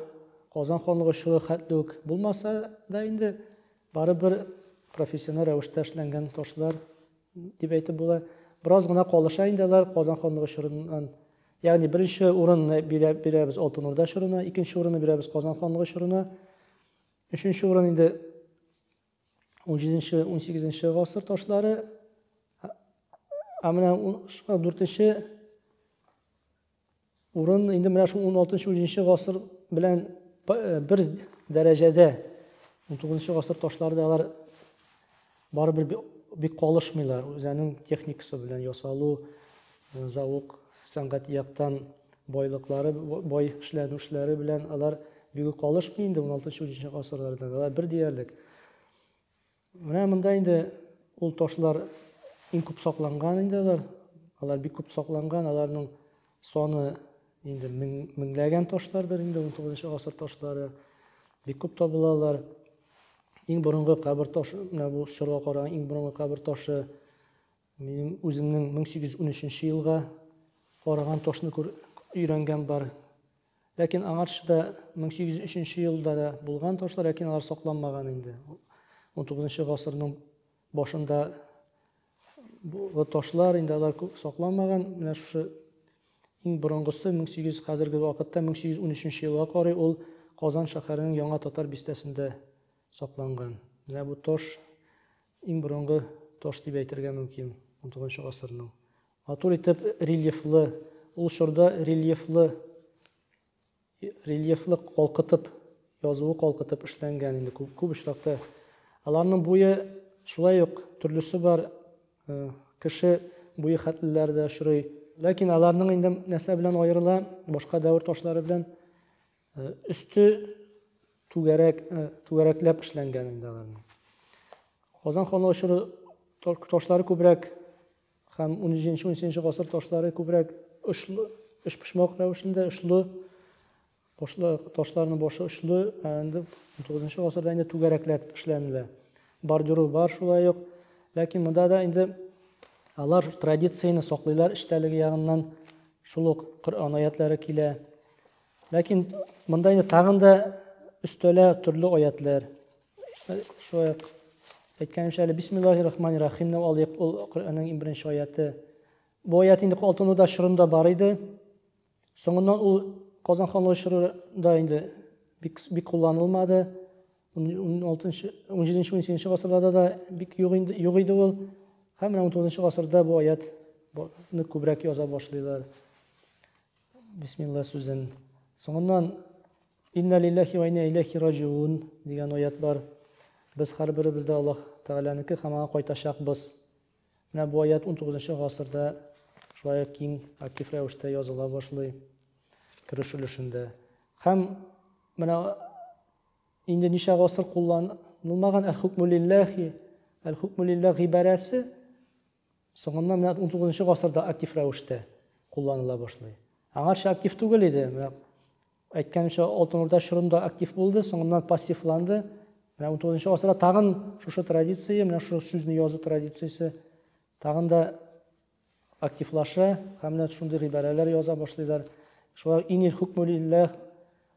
Казан ханлыгы чоры хәтле үк булмаса да инде, барыбер профессиональ рәвештә эшләнгән ташлар дип әйтеп була. Бераз гына калыша инде алар Казан ханлыгы чорыннан. Ягъни беренче урынны бирәбез Алтын Урда чорына, икенче урынны бирәбез Казан ханлыгы чорына. Өченче урын инде 17-18 гасыр ташлары. Ә менә 4-нче Урын инде менә шул 16-17 гасыр белән бер дәрәҗәдә. 19 гасыр ташлары да алар барыбер бик калышмыйлар. Үзенең техникасы белән ясалу, завук, сәнгать яктан байлыклары, бай эшләнүшләре белән алар бигүк калышмый инде 16-17 гасырларда. Алар бер диярлек. Менә монда инде ул ташлар иң күп сакланган инде алар. Алар бик күп сакланган, аларның саны инде меңләгән ташлардыр инде 19 гасыр ташлары. Бик күп табылалар. Иң борынгы кабер ташы, менә бу чорга караган иң борынгы кабер ташы Минем үземнең 1813 елга караган ташны күр өйрәнгән бар. Ләкин аңарчы да 1803 елда да булган ташлар, ләкин алар сакланмаган инде. 19 гасырның башында бу ташлар инде алар күп сакланмаган. Менә шушы иң борынгысы 1800 хәзерге вакытта 1813 елга карый ул Казан шәһәренең Яңа татар бистәсендә сакланган. Менә бу таш Иң борынгы таш дип әйтергә мөмкин, унтугызынчы гасырның. Матур итеп рельефлы, ул чорда рельефлы рельефлы калкытып, язуы калкытып эшләнгән инде күп, күп очракта. Аларның буе шулай ук төрлесе бар, э, кеше буе хәтлеләр дә очрый. Ләкин аларның инде нәрсә белән аерыла, башка дәвер ташлары белән Э, өсте түгәрәк э, түгәрәкләп эшләнгән инде аларның казан ханы очыры ташлары күбрәк һәм 13-13 гасыр ташлары күбрәк очлы өчпочмак рәвешендә очлы ташларның башы очлы ә инде 19 гасырда инде түгәрәкләп эшләнелә бордюры бар шулай ук ләкин монда да инде алар традицияне саклыйлар эчтәлеге ягыннан шул ук коръән аятлары килә Ләкин монда инде тагын да өстәлә төрле аятлар. Шулай ук әйткәнемчә әле бисмиллахи рахмани рахимны алыйк, ул Коръәннең иң беренче аяты. Бу аят инде Алтын Урда чорында бар иде. Соңыннан ул Казан ханлыгы чорында инде бик бик кулланылмады. 16-нчы, 17-нче, 18-нче гасырларда да бик юк инде, юк иде ул. Һәм менә 19-нчы гасырда бу аятны күбрәк яза башлыйлар. Бисмилла сүзен. Соңыннан Инна лиллахи ва инна иләхи раҗиун дигән аят бар. Без һәрберебез дә Аллаһ Тәгаләнеке һәм аңа кайтачакбыз. Менә бу аят 19 гасырда шулай киң актив рәвештә языла башлый кереш өлешендә. Һәм менә инде ничә гасыр кулланылмаган әл-хукму лиллахи, әл-хукму лиллах гыйбарәсе Соңыннан менә 19 нчы гасырда актив рәвештә кулланыла башлый. Аңарча актив түгел иде. Менә әйткәнемчә, Алтын Урда чорында актив булды, соңыннан пассивланды. Менә 19 нчы гасырда тагын шушы традиция, менә шушы сүзне язу традициясе тагын да активлаша һәм менә шундый гыйбарәләр яза башлыйлар. Шулай инил хукмул илләх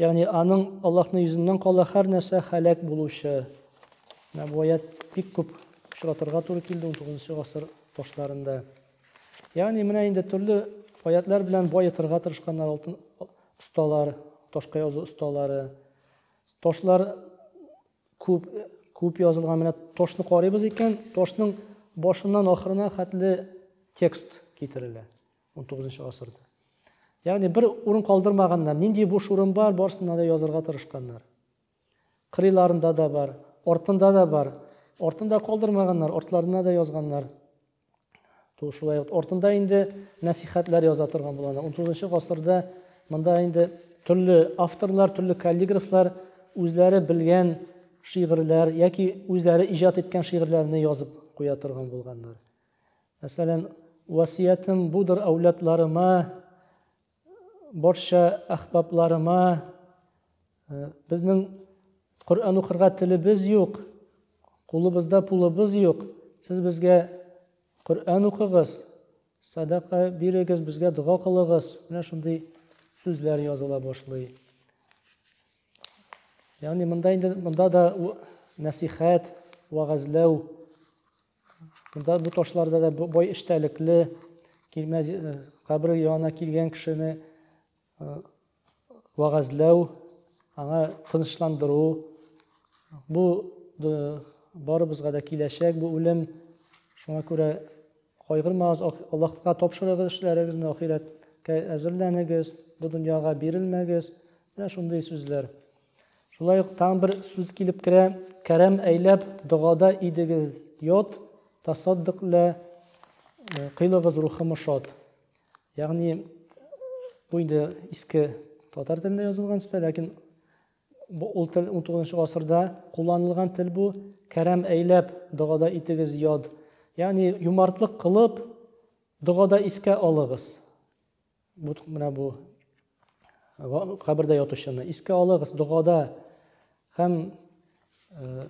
Ягъни аның Аллаһның йөзеннән кала һәр нәрсә һәлак булучы. Менә бу аят бик күп очратырга туры килде 19 гасыр башларында. Ягъни менә инде төрле аятлар белән баетырга тырышканнар алтын осталар, ташка язу осталары. Ташлар күп күп язылган. Менә ташны карыйбыз икән, ташның башыннан ахырына хәтле текст китерелә. 19 гасырда. Ягъни бер урын калдырмаганнар. Нинди буш урын бар, барсына да язырга тырышканнар. Кырыйларында да бар, артында да бар. Артында калдырмаганнар, артларына да язганнар. Ту шулай ук артында инде насихатлар яза торган булган. 19 гасырда монда инде төрле авторлар, төрле каллиграфлар үзләре белгән шигырьләр яки үзләре иҗат иткән шигырьләрне язып куя торган булганнар. Мәсәлән, васыятем будыр әүладларыма, барча әхбабларыма, э, безнең Коръән укырга телебез юк, кулыбызда пулыбыз юк, сез безгә Коръән укыгыз, садака бирегез, безгә дога кылыгыз. Менә шундый сүзләр языла башлый. Ягъни монда инде монда да нәсихәт, вагазлау Бу ташларда да бай эчтәлекле килмәз э, кабер янына килгән кешене э, вәгазьләү, аңа тынычландыру. Бу барыбызга да киләчәк бу үлем. Шуңа күрә кайгырмагыз, Аллаһка тапшырыгыз эшләрегезне, ахирәткә әзерләнегез, бу дөньяга бирелмәгез. Менә шундый сүзләр. Шулай ук тагын бер сүз килеп керә, кәрәм әйләп догада идегез йот, тасаддык лә э, кыйлыгыз рухым шот. Ягъни бу инде иске татар телендә язылган сүз, ләкин ул тел 19 гасырда кулланылган тел бу, кәрәм әйләп догада итегез йод. Ягъни юмартлык кылып догада искә алыгыз. Бу менә бу кабердә ятучыны искә алыгыз, догада һәм э,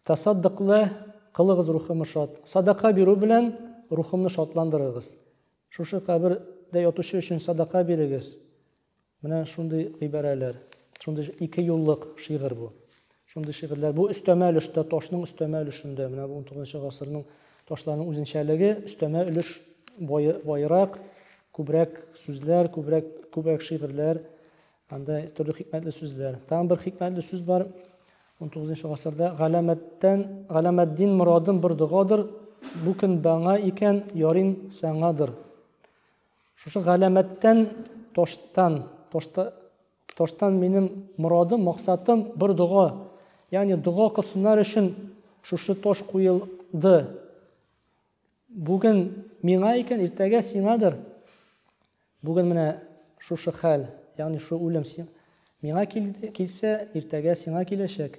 тасаддыклы кылыгыз рухымы шат. Садака бирү белән рухымны шатландырыгыз. Шушы кабердә ятучы өчен садака бирегез. Менә шундый гыйбарәләр, шундый ике юллык шигырь бу. Шундый шигырьләр. Бу өстәмә өлештә, ташның өстәмә өлешендә. Менә бу 19 гасырның ташларының үзенчәлеге, өстәмә өлеш байрак, күбрәк сүзләр, күбрәк күбрәк шигырьләр, анда төрле хикмәтле сүзләр. Тагын бер хикмәтле сүз бар. 19 гасырда галәмәттән, галәмәддин мурадым бер догадыр, бу көн баңа икән, ярин саңадыр. Шушы галәмәттән, таштан, ташта Тыштан минем морадым, максатым, бер дога. Ягъни дога кылсыннар өчен шушы таш куелды. Бүген миңа икән, иртәгә сиңадыр. Бүген менә шушы хәл, ягъни шу үлем миңа килсә, иртәгә сиңа киләчәк.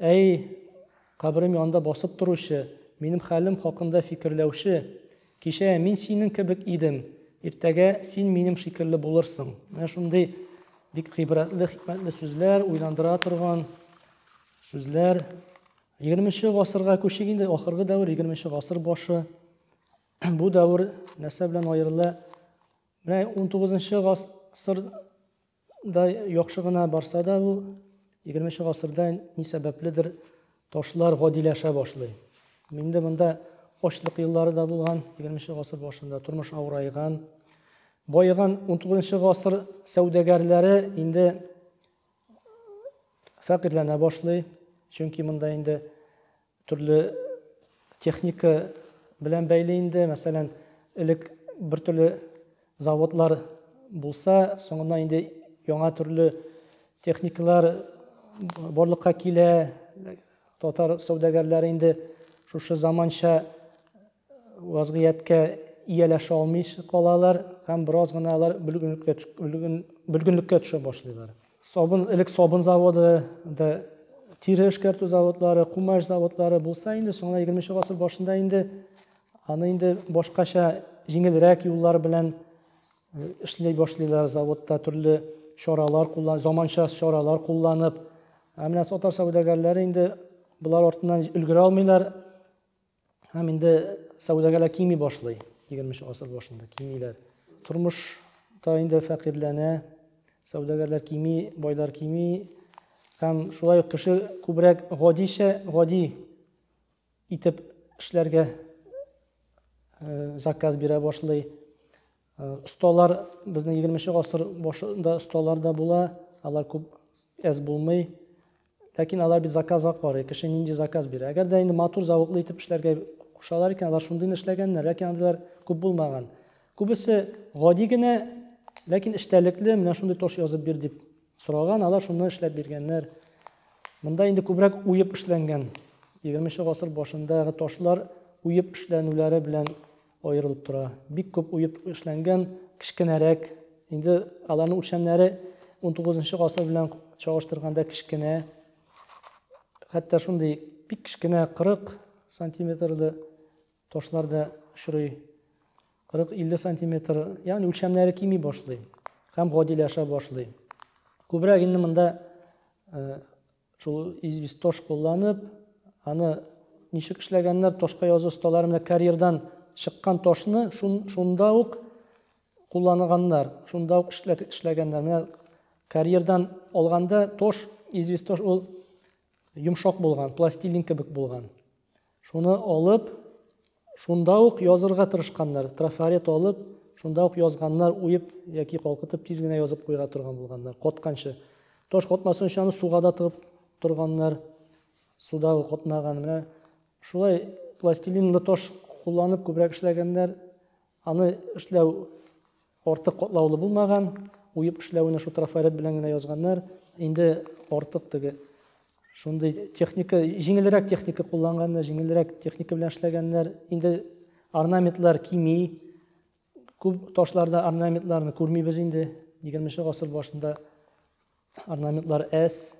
Әй, каберем янында басып торучы, минем хәлем хакында фикерләүче, кичә мин синең кебек идем, иртәгә син минем шикелле булырсың. Менә шундый бик гыйбрәтле, хикмәтле сүзләр, уйландыра торган сүзләр. Егерменче гасырга күчик инде, ахыргы дәвер, егерменче гасыр башы. Бу дәвер нәрсә белән аерыла? Менә унтугызынчы гасыр Да яхшы гына барса да бу егерменче гасырда ни сәбәпледер ташлар гадиләшә башлый. Инде монда ачлык еллары да булган, егерменче гасыр башында тормыш авырайган. Баеган 19 гасыр сәүдәгәрләре инде фәкыйрьләнә башлый, чөнки монда инде Төрле техника белән бәйле инде. Мәсәлән, элек бер төрле заводлар булса, соңыннан инде яңа төрле техникалар барлыкка килә. Татар сәүдәгәрләре инде шушы заманча вазгыятькә ияләшә алмыйча калалар һәм бераз гына алар бөлгенлеккә бөлгенлеккә төшә башлыйлар. Сабын элек сабын заводы да тире эшкәртү заводлары, кумаш заводлары булса инде, соңына 20 нче гасыр башында инде аны инде башкача җиңелрәк юллар белән э, эшли башлыйлар заводта төрле чаралар куллан, заманча чаралар кулланып. Ә менә татар сәүдәгәрләре инде болар артыннан өлгерә алмыйлар, Һәм инде сәүдәгәләр кими башлый, 20 асыр башында кимиләр. Тормыш та инде фәкыйрьләнә, сәүдәгәрләр кими, байлар кими. Һәм шулай ук кеше күбрәк гадичә, гади итеп эшләргә э, заказ бирә башлый. Осталар безнең 20 нче гасыр башында осталар да була, алар күп әз булмый. Ләкин алар бит заказга карый, кеше нинди заказ бирә. Әгәр дә инде матур зәвыклы итеп эшләргә кушалар икән, алар шундый эшләгәннәр, ләкин андыйлар күп булмаган. Күбесе гади генә, ләкин эчтәлекле, менә шундый тош язып бир дип сораган, алар шуны эшләп биргәннәр. Монда инде күбрәк уеп эшләнгән. 20 нче гасыр башындагы ташлар уеп эшләнүләре белән Аерылып тора. Бик күп уеп эшләнгән, кечкенәрәк. Инде аларның үлчәмнәре унтугызынчы гасыр белән чагыштырганда кечкенә. Хәтта шундый бик кечкенә 40 сантиметрлы ташлар да очрый. 40-50 сантиметр, ягъни үлчәмнәре кими башлый һәм гадиләшә башлый. Күбрәк инде монда э, Шул известь тош кулланып, аны ничек эшләгәннәр, тошка язу осталары менә карьердан чыккан тошны шун, шунда ук кулланганнар, шунда ук эшләгәннәр. Менә карьердан алганда тош, известь тош ул йомшак булган, пластилин кебек булган. Шуны алып, шунда ук язырга тырышканнар. Трафарет алып, шунда ук язганнар, уеп яки калкытып тиз генә язып куйга торган булганнар, котканчы. Таш котмасын өчен аны суга да тыгып торганнар. Суда котмаган. Менә шулай пластилинлы таш кулланып күбрәк эшләгәннәр. Аны эшләү артык катлаулы булмаган, уеп эшләвенә шул трафарет белән генә язганнар. Инде артык теге шундый техника, җиңелрәк техника кулланганнар, җиңелрәк техника белән эшләгәннәр. Инде орнаментлар кими, күп ташларда орнаментларны күрмибез инде. 20 гасыр башында орнаментлар әз.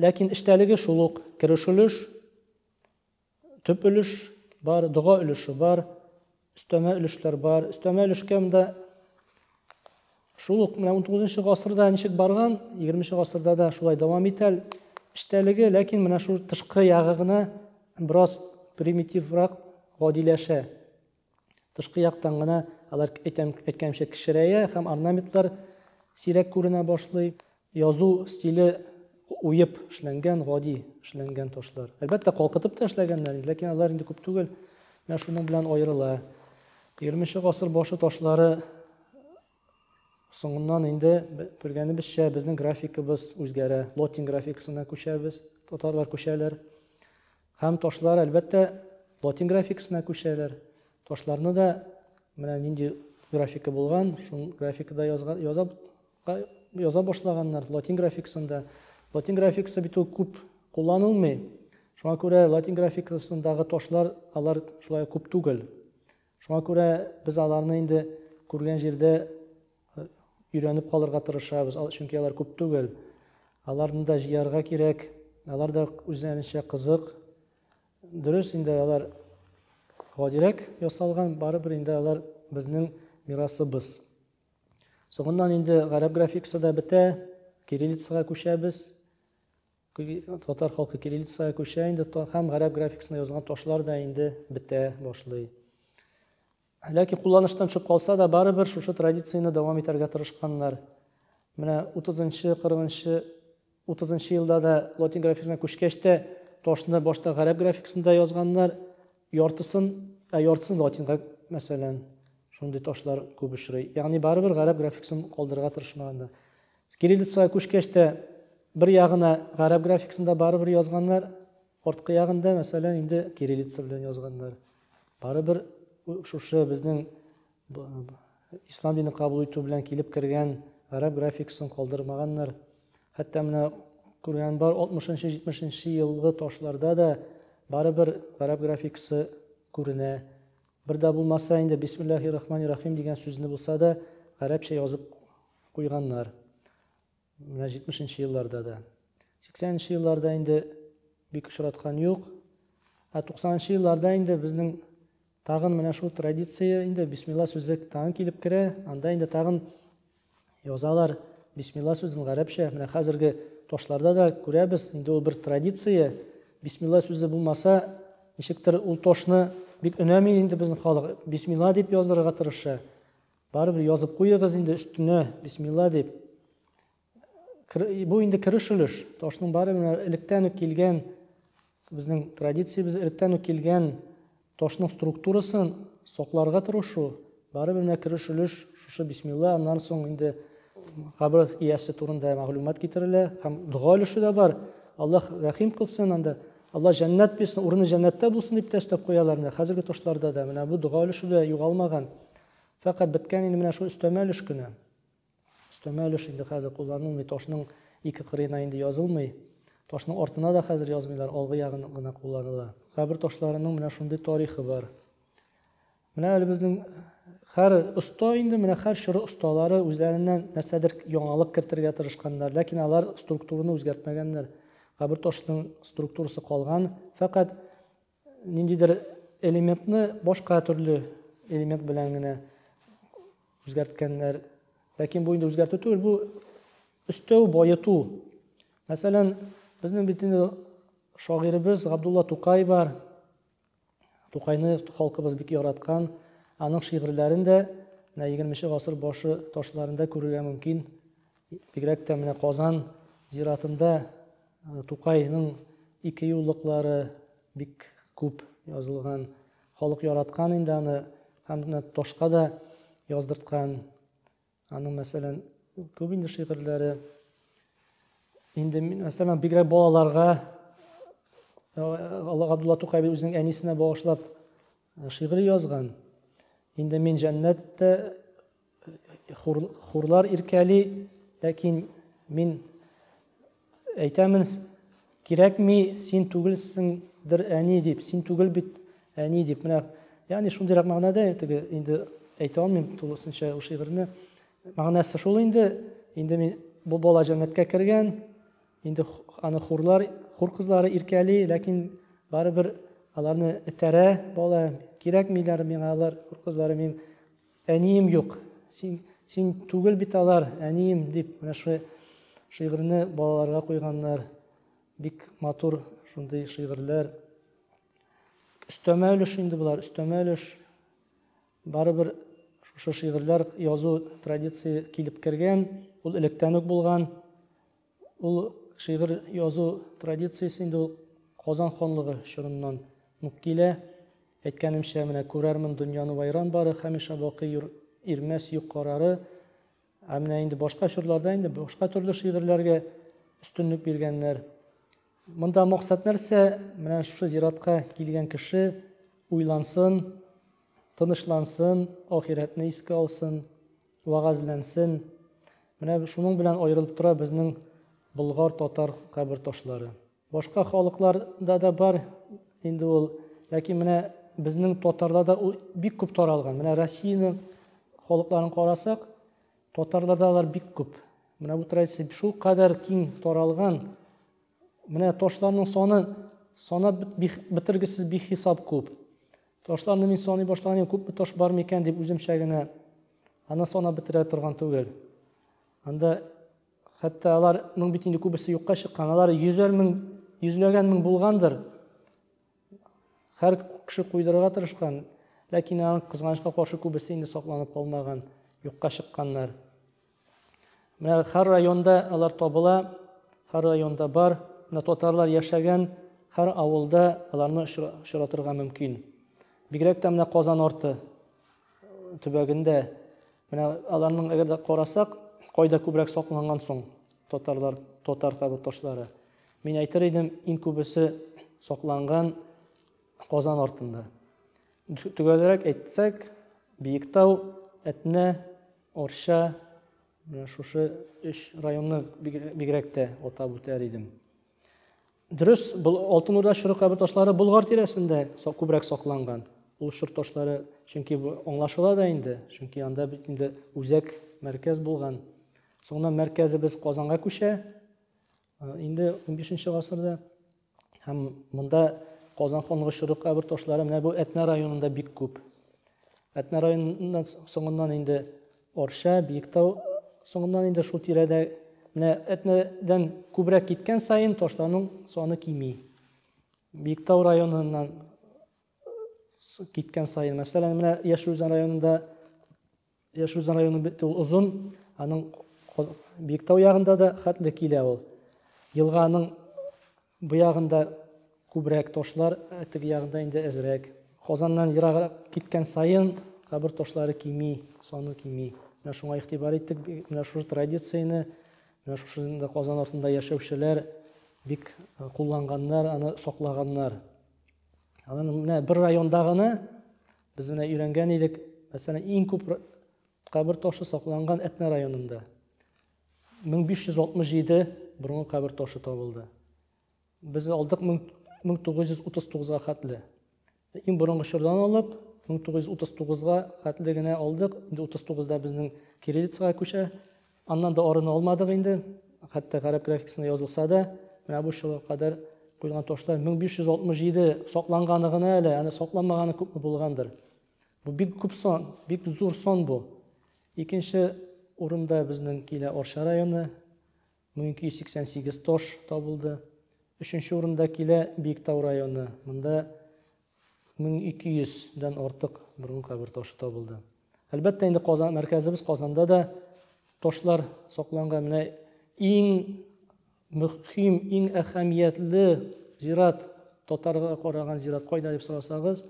Ләкин эчтәлеге шул ук, керешелеш, Төп өлеш бар, дога өлеше бар, өстәмә өлешләр бар. Өстәмә өлешкә монда шул ук менә 19 гасырда ничек барган, 20 гасырда да шулай дәвам итә эчтәлеге, ләкин менә шул тышкы ягы гына бераз примитиврак, гадиләшә. Тышкы яктан гына алар әйтәм, әйткәнчә кечерәя һәм орнаментлар сирәк күренә башлый. Язу стиле уеп эшләнгән, гади эшләнгән ташлар. Әлбәттә, калкытып та эшләгәннәр, ләкин алар инде күп түгел. Менә шуның белән аерыла. 20 нче гасыр башы ташлары Соңыннан инде күргәнебезчә, безнең графикыбыз үзгәрә. Лотин графикасына күчәбез, татарлар күчәләр. Һәм ташлар, әлбәттә, лотин графикасына күчәләр. Ташларны да менә нинди графика булган, шул графикада язга, яза, яза башлаганнар латин графикасында. Латин графикасы бит ул күп кулланылмый. Шуңа күрә латин графикасындагы ташлар алар шулай күп түгел. Шуңа күрә без аларны инде күргән җирдә өйрәнеп калырга тырышабыз, чөнки алар күп түгел. Аларны да җыярга кирәк, алар да үзләренчә кызык. Дөрес инде алар гадирәк ясалган, барыбер инде алар безнең мирасыбыз. Соңыннан инде гарәп графикасы да бетә, кириллицага күчәбез. Татар халкы кириллицага күчә инде һәм гарәп графикасында язылган ташлар да инде бетә башлый. Ләкин кулланыштан чыгып калса да, барыбер шушы традицияне дәвам итәргә тырышканнар. Менә 30-нчы, 40-нчы, 30-нчы елда да латин графикасына күчкәч тә ташны башта гарәп графикасында язганнар, яртысын, ә яртысын латинга, мәсәлән, шундый ташлар күп очрый. Ягъни барыбер гарәп графикасын калдырырга тырышмаганнар. С кириллицага күчкәч тә бер ягына гарәп графикасында барыбер язганнар, арткы ягында, мәсәлән, инде кириллица белән язганнар. Барыбер шушы безнең ислам динен кабул итү белән килеп кергән гарәп графикасын калдырмаганнар. Хәтта менә күргән бар 60-70 елгы ташларда да барыбер гарәп графикасы күренә. Бер дә булмаса инде Бисмиллахи рахмани рахим дигән сүзне булса да гарәпчә язып куйганнар. Менә 70 нче елларда да. 80 нче елларда инде бик очраткан юк. Ә 90 нчы елларда инде безнең тагын менә шул традиция инде бисмилла сүзе тагын килеп керә. Анда инде тагын Язалар бисмилла сүзен гарәпчә. Менә хәзерге тошларда да күрәбез, инде ул бер традиция. Бисмилла сүзе булмаса, ничектер ул тошны бик өнәми инде безнең халык. Бисмилла дип яздырырга тырыша. Барыбер язып куегыз инде өстенә бисмилла дип. Бу инде кереш өлеш. Тошның бары менә электән үк килгән Безнең традициябез электән үк килгән ташның структурасын сакларга тырышу, барыбер менә кереш өлеш шушы бисмилла, аннан соң инде кабер иясе турында мәгълүмат китерелә һәм дога өлеше дә бар. Аллаһ рәхим кылсын анда. Алла җәннәт бирсен, урыны җәннәттә булсын дип тә өстәп куялар менә хәзерге ташларда да. Менә бу дога өлеше дә югалмаган. Фәкать беткән инде менә шул өстәмә өлеш кенә. Өстәмә өлеш инде хәзер кулланылмый, ташның ике кырыена инде язылмый. Ташның артына да хәзер язмыйлар, алгы ягын гына кулланыла. Кабер ташларының менә шундый тарихы бар. Менә әле безнең хәр оста инде менә хәр чоры осталары үзләреннән нәрсәдер яңалык кертергә тырышканнар, ләкин алар структураны үзгәртмәгәннәр. Кабер ташының структурасы калган, фәкать ниндидер элементны башка төрле элемент белән генә үзгәрткәннәр. Ләкин бу инде үзгәртү түгел, бу өстәү, байыту. Мәсәлән, безнең бит инде шагыйребез Габдулла Тукай бар. Тукайны халкыбыз бик яраткан. Аның шигырьләрен дә менә 20 нче гасыр башы ташларында күрергә мөмкин. Бигрәк тә менә Казан зиратында э, Тукайның ике юллыклары бик күп язылган. Халык яраткан инде аны һәм менә ташка да яздырткан. Аның мәсәлән күп инде шигырьләре. Инде мәсәлән бигрәк балаларга э, Алла Габдулла Тукай үзенең әнисенә багышлап э, шигырь язган. Инде мин җәннәттә хурлар иркәли, ләкин мин әйтәмен, кирәкми, син түгелсеңдер әни дип, син түгел бит әни дип. Менә, ягъни шундыйрак мәгънәдә теге инде әйтә алмыйм тулысынча ул шигырьне. Мәгънәсе шул инде, инде мин бу бала җәннәткә кергән, инде аны хурлар, хур кызлары иркәли, ләкин барыбер аларны этәрә бала, кирәкмиләр миңа алар, хур кызлары мин Әнием юк, син, син түгел бит алар, әнием, дип, менә шулай шигырьне балаларга куйганнар. Бик матур шундый шигырьләр. Өстәмә өлеш инде болар, өстәмә өлеш. Барыбер шушы шигырьләр язу традиция килеп кергән, ул электән үк булган. Ул шигырь язу традициясе инде ул Казан ханлыгы чорыннан ук килә. Әйткәнемчә, менә күрәрмен дөньяны вайран бары, хәмишә бакый юр, ирмәс юк карары. Ә менә инде башка чорларда инде башка төрле шигырьләргә өстенлек биргәннәр. Монда максат нәрсә? Менә шушы зиратка килгән кеше уйлансын, тынычлансын, ахирәтне искә алсын, Вәгазьләнсен. Менә шуның белән аерылып тора безнең болгар, татар кабер ташлары. Башка халыкларда да бар инде ул, ләкин менә безнең татарларда ул бик күп таралган. Менә Россиянең халыкларын карасак, татарларда алар бик күп. Менә бу традиция шул кадәр киң таралган. Менә ташларның саны санап бетергесез бихисап күп. Ташларны мин саный башлаган күпме таш бар микән дип үземчә генә аны санап бетерә торган түгел. Анда хәтта алар моң бит инде күбесе юкка чыккан. Алар йөзәр мең, йөзләгән мең булгандыр. Хәр кеше куйдырырга тырышкан, ләкин аның кызганычка каршы күбесе инде сакланып калмаган, юкка чыкканнар. Менә һәр районда алар табыла, һәр районда бар. Менә татарлар яшәгән һәр авылда аларны очратырга мөмкин. Бигрәк тә менә Казан арты төбәгендә менә аларның әгәр дә карасак, кайда күбрәк сакланган соң татарлар, татар табыт ташлары. Мин әйтер идем, иң күбесе сакланган Казан артында. Төгәлрәк әйтсәк, Биектау, Әтнә, Арча, менә шушы өч районны бигрәк тә атап үтәр идем. Дөрес, Алтын Урда чоры кабер ташлары Болгар тирәсендә күбрәк сакланган. Ул чор ташлары, чөнки аңлашыла да инде, чөнки анда бит инде үзәк мәркәз булган. Соңыннан мәркәзебез Казанга күчә. Инде 15-нче гасырда һәм монда Казан ханлыгы чоры кабер ташлары менә бу Әтнә районында бик күп. Әтнә районыннан соңыннан инде Орша, Биектау соңыннан инде шул тирәдә менә Әтнәдән күбрәк киткән саен ташларның саны кими. Биектау районыннан киткән саен, мәсәлән, менә Яшелүзән районында Яшел Үзән районы бит ул озын, аның Биектау ягында да хәтле килә ул. Елганың бу ягында күбрәк ташлар, ә теге ягында инде әзрәк. Казаннан ераграк киткән саен кабер ташлары кими, саны кими. Менә шуңа игътибар иттек, менә шушы традицияне, менә шушы Казан артында яшәүчеләр бик э, кулланганнар, аны саклаганнар. Аны менә бер районда гына Без менә өйрәнгән идек, мәсәлән, иң күп кабер ташы сакланган Әтнә районында. 1567 борынгы кабер ташы табылды. Без алдык 1939-га хәтле. Иң борынгы чордан алып, 1939-га хәтле генә алдык. Инде 39-да безнең кириллицага күчә. Аннан да арына алмадык инде. Хәтта гарәп графикасына язылса да, менә бу чорга кадәр куелган ташлар 1567 сакланганы гына әле, аны сакланмаганы күпме булгандыр. Бу бик күп сон, бик зур сон бу. Икенче урында безнең килә Орша районы 1288 таш табылды. Өченче урында килә Биектау районы. Монда 1200 дән артык борын кабер ташы табылды. Әлбәттә инде Казан мәркәзебез Казанда да ташлар сакланган. Менә иң мөһим, иң әһәмиятле зират татарга караган зират кайда дип сорасагыз,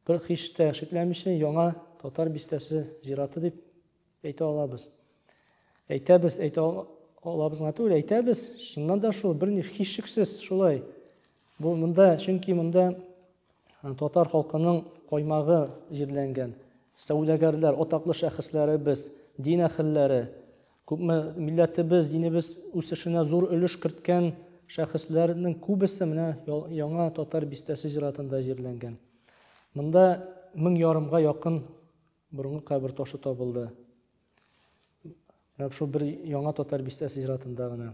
бер хиштә шикләмичә яңа татар бистәсе зираты дип Әйтә алабыз. Әйтәбез, әйтә алабыз гына түгел, әйтәбез. Чыннан да шул, берни һичшиксез шулай. Бу монда, чөнки монда э, татар халкының каймагы җирләнгән. Сәүдәгәрләр, атаклы шәхесләребез, дин әһелләре, күпме милләтебез, динебез үсешенә зур өлеш керткән шәхесләрнең күбесе менә яңа татар бистәсе зиратында җирләнгән. Монда мең ярымга якын Борынгы кабер ташы табылды. Менә шул бер яңа татар бистәсе зиратында гына.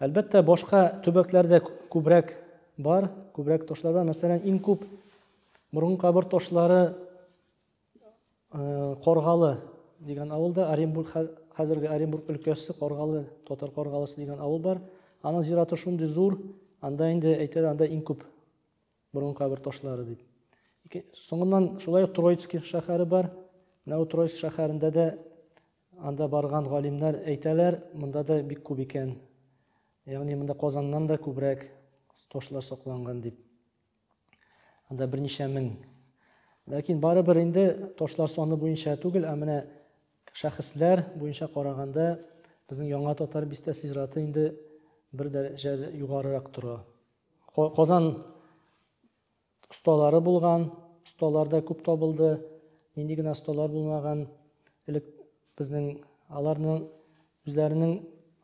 Әлбәттә, башка төбәкләрдә күбрәк бар, күбрәк ташлар бар. Мәсәлән, иң күп борынгы кабер ташлары э, Коргалы дигән авылда, Оренбург хәзерге Оренбург өлкәсе Коргалы, татар Коргалысы дигән авыл бар. Аның зираты шундый зур, анда инде әйтәләр, анда иң күп Борын кабер ташлары дип. Соңыннан шулай Троицкий шәһәре бар. Менә ул Троицк шәһәрендә дә анда барган галимнәр әйтәләр, монда да бик күп икән. Ягъни монда Казаннан да күбрәк ташлар сакланган дип. Анда берничә мең. Ләкин барыбер инде ташлар саны буенча түгел, ә менә шәхесләр буенча караганда безнең яңа татар бистәсе зираты инде бер дәрәҗә югарырак тора. Казан осталары булган, осталар да күп табылды. Нинди генә осталар булмаган. Элек безнең аларның үзләренең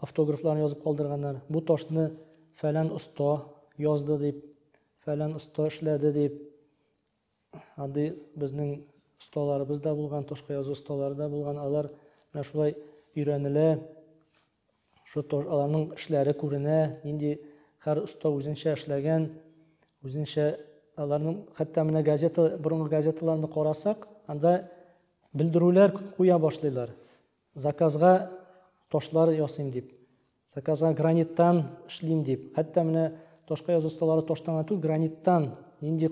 автографларын язып калдырганнар. Бу ташны фәлән оста язды дип, фәлән оста эшләде дип. Андый безнең осталарыбыз да булган, ташка язу осталары да булган. Алар менә шулай өйрәнелә. Шул тор, аларның эшләре күренә, нинди хәр оста үзенчә эшләгән, үзенчә аларның хәтта менә газета, борынгы газеталарны карасак, анда белдерүләр куя башлыйлар. Заказга ташлар ясыйм дип, заказга граниттан эшлим дип, хәтта менә ташка язу осталары таштан гына түгел, граниттан нинди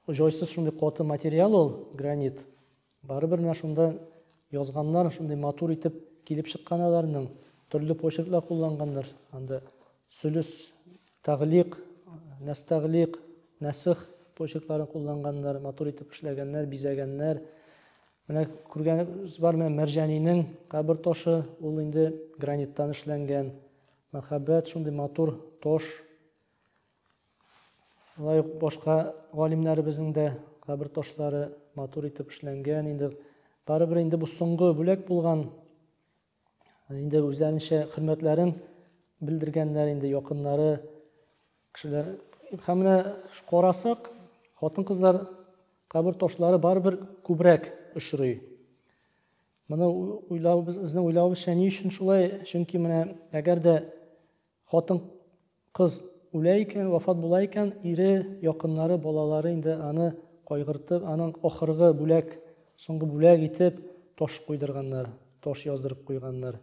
җайсыз шундый каты материал ул гранит. Барыбер менә шунда язганнар, шундый матур итеп килеп чыккан аларның. Төрле почерклар кулланганнар. Анда сүлүс, тәглик, нәстәглик, нәсих почеркларын кулланганнар, матур итеп эшләгәннәр, бизәгәннәр. Менә күргәнебез бар менә Мәрҗәнинең кабер ташы, ул инде граниттан эшләнгән. Мәхәббәт шундый матур таш. Алай ук башка галимнәребезнең дә кабер ташлары матур итеп эшләнгән. Инде барыбер инде бу соңгы бүләк булган. Инде үзләренчә хөрмәтләрен белдергәннәр инде якыннары кешеләр. Һәм менә карасак, хатын-кызлар кабер ташлары барыбер күбрәк очрый. Моны уйлау безнең уйлавыбызча ни өчен шулай? Чөнки менә әгәр дә Хатын-кыз үлә икән, вафат була икән, ире, якыннары, балалары инде аны кайгыртып, аның ахыргы бүләк, соңгы бүләк итеп таш куйдырганнар, таш яздырып куйганнар.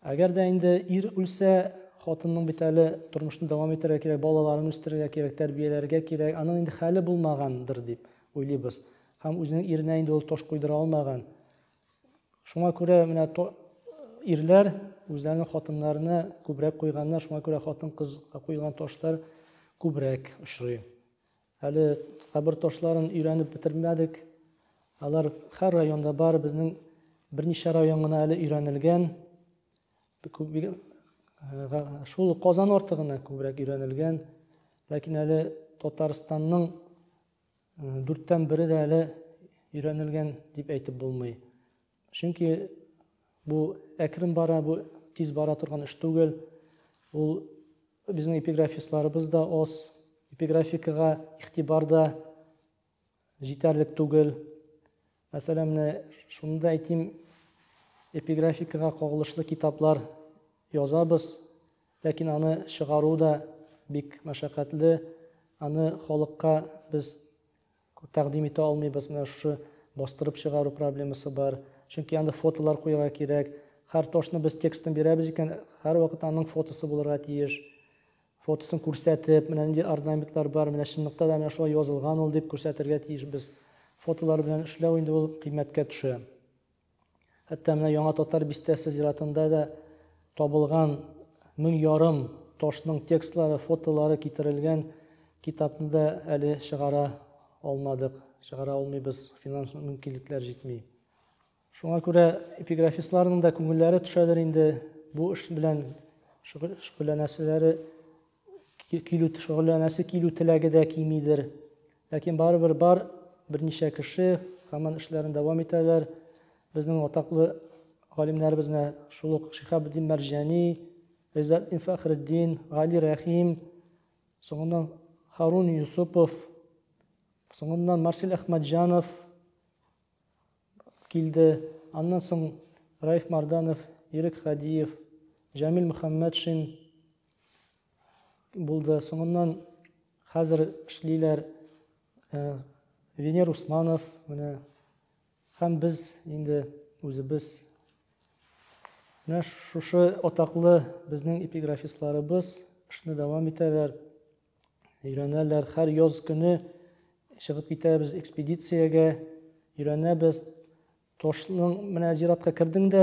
Әгәр дә инде ир үлсә, хатынның бит әле тормышны дәвам итәргә кирәк, балаларын үстерергә кирәк, тәрбияләргә кирәк, аның инде хәле булмагандыр дип уйлыйбыз. Һәм үзенең иренә инде ул таш куйдыра алмаган. Шуңа күрә менә ирләр үзләренең хатыннарына күбрәк куйганнар, шуңа күрә хатын-кызга куелган ташлар күбрәк очрый. Әле кабер ташларын өйрәнеп бетермәдек. Алар һәр районда бар, безнең берничә район гына әле өйрәнелгән. Э, шул Казан арты гына күбрәк өйрәнелгән. Ләкин әле Татарстанның Дүрттән бере дә әле өйрәнелгән дип әйтеп булмый. Чөнки бу әкрен бара, бу тиз бара торган эш түгел. Ул безнең эпиграфистларыбыз да аз, эпиграфикага игътибар да җитәрлек түгел. Мәсәлән, менә шуны да әйтим, эпиграфикага кагылышлы китаплар язабыз, ләкин аны чыгару да бик мәшәкатьле, аны халыкка без тәкъдим итә алмыйбыз, менә шушы бастырып чыгару проблемасы бар. Чөнки анда фотолар куярга кирәк. Һәр ташны без текстын бирәбез икән, һәрвакыт аның фотосы булырга тиеш. фотосын күрсәтеп, менә нинди орнаментлар бар, менә чынлыкта да менә шулай язылган ул дип күрсәтергә тиешбез. Фотолар белән эшләү инде ул кыйммәткә төшә. Хәтта менә Яңа Татар бистәсе зиратында да табылган мең ярым ташның текстлары, фотолары китерелгән китапны да әле чыгара алмадык, чыгара алмыйбыз, финанс мөмкинлекләр җитми. Шуңа күрә эпиграфистларның да күңелләре төшәдер инде, бу эш белән шөгыльләнәселәре килү шөгыльләнәсе килү теләге дә кимидер. Ләкин барыбер бар берничә кеше һаман эшләрен дәвам итәләр. Безнең атаклы галимнәребезне шул ук Шихабетдин Мәрҗани, Гыйззәтдин Фәхреддин, Гали Рәхим, соңыннан Харун Юсупов, соңыннан Марсель Әхмәтҗанов, килде. Аннан соң Раиф Марданов, Ирек Хадиев, Җәмил Мөхәммәтшин булды. Соңыннан хәзер эшлиләр э, Венер Усманов менә һәм без инде үзебез Менә шушы атаклы безнең эпиграфистларыбыз эшне дәвам итәләр. Өйрәнәләр. Һәр яз көне чыгып китәбез экспедициягә. Өйрәнәбез. Ташның менә зиратка кердең дә,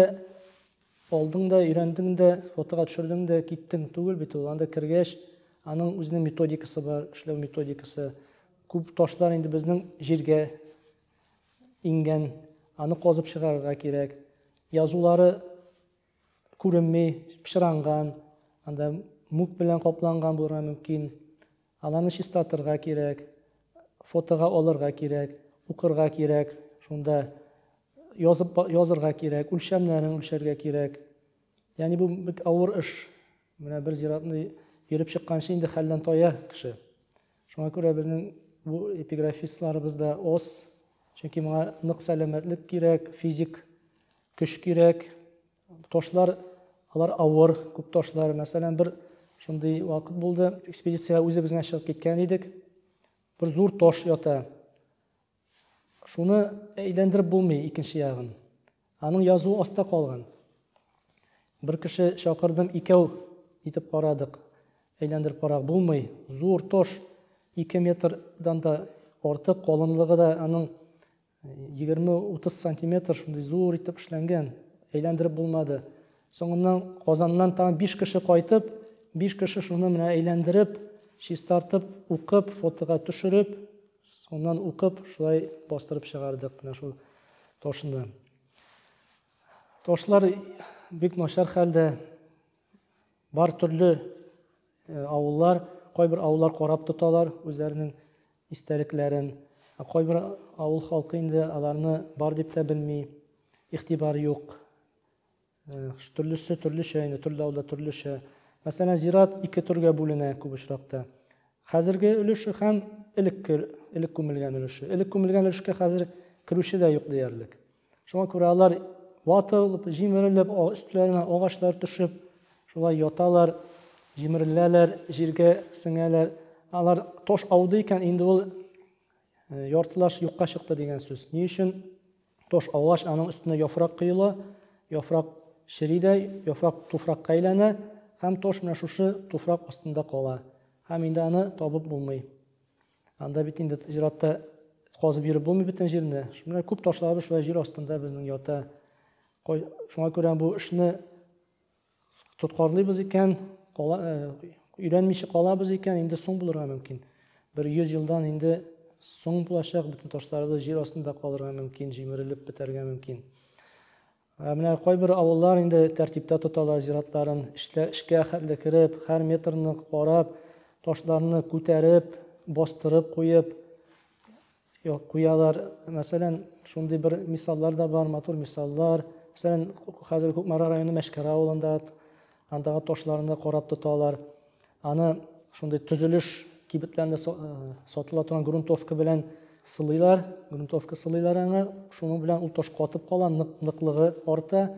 алдың да, өйрәндең дә, фотога төшердең дә, киттең түгел бит ул. Анда кергәч, аның үзенең методикасы бар, эшләү методикасы. Күп ташлар инде безнең җиргә иңгән, аны казып чыгарырга кирәк. Язулары Күренми, пычранган, анда мук белән капланган булырга мөмкин. Аларны чистартырга кирәк, фотога алырга кирәк, укырга кирәк, шунда язып язырга кирәк, үлчәмнәрен үлчәргә кирәк. Ягъни бу бик авыр эш. Менә бер зиратны йөреп чыкканчы инде хәлдән тая кеше. Шуңа күрә безнең бу эпиграфистларыбыз да аз. Чөнки моңа нык сәламәтлек кирәк, физик Көч кирәк. Ташлар, алар авыр, күп ташлар. Мәсәлән, бер шундый вакыт булды. Экспедициягә үзебез генә чыгып киткән идек. Бер зур таш ята. Шуны әйләндереп булмый икенче ягын. Аның язуы аста калган. Бер кеше чакырдым, икәү итеп карадык. Әйләндереп карак булмый. Зур тош, 2 метрдан да артык калынлыгы да аның 20-30 сантиметр шундый зур итеп эшләнгән, әйләндереп булмады. Соңыннан Казаннан тагын 5 кеше кайтып, 5 кеше шуны менә әйләндереп, чистартып, укып, фотога төшереп, соннан укып, шулай бастырып чыгардык менә шул ташны. Ташлар бик начар хәлдә. Бар төрле авыллар, кайбер авыллар карап тоталар үзләренең истәлекләрен. Ә кайбер авыл халкы инде аларны бар дип тә белми, игътибар юк. Төрлесе төрлечә инде, төрле авылда төрлечә. Мәсәлән, зират ике төргә бүленә күп очракта. Хәзерге өлеше һәм элекке элек күмелгән өлеше. Элек күмелгән өлешкә хәзер керүче дә юк диярлек. Шуңа күрә алар ватылып, җимерелеп, өстләренә агачлар төшеп, шулай яталар, җимереләләр, җиргә сеңәләр. Алар таш ауды икән, инде ул э, яртылаш юкка чыкты дигән сүз. Ни өчен таш аугач, аның өстенә яфрак коела, яфрак чери дә, яфрак туфракка әйләнә һәм таш менә шушы туфрак астында кала. Һәм инде аны табып булмый. Анда бит инде зиратта казып йөреп булмый бөтен җирне. Шуңа күп ташларыбыз шулай җир астында безнең ята. Шуңа күрә бу эшне тоткарлыйбыз икән, э, өйрәнмичә калабыз икән, инде соң булырга мөмкин. Бер 100 елдан инде соң булачак, бөтен ташларыбыз җир астында калырга мөмкин, җимерелеп бетәргә мөмкин. Ә менә кайбер авыллар инде тәртиптә тоталар зиратларын, эштә эшкә хәтле кереп, һәр метрны карап, ташларны күтәреп, бастырып куеп куялар. Мәсәлән, шундый бер мисаллар да бар, матур мисаллар. Мәсәлән, хәзер Кукмара районы Мәшкәр авылында Андагы ташларны да карап тоталар. Аны шундый төзелеш кибетләрендә э, сатыла торган грунтовка белән сылыйлар, грунтовка сылыйлар аңа. Шуның белән ул таш катып кала, нык, ныклыгы арта.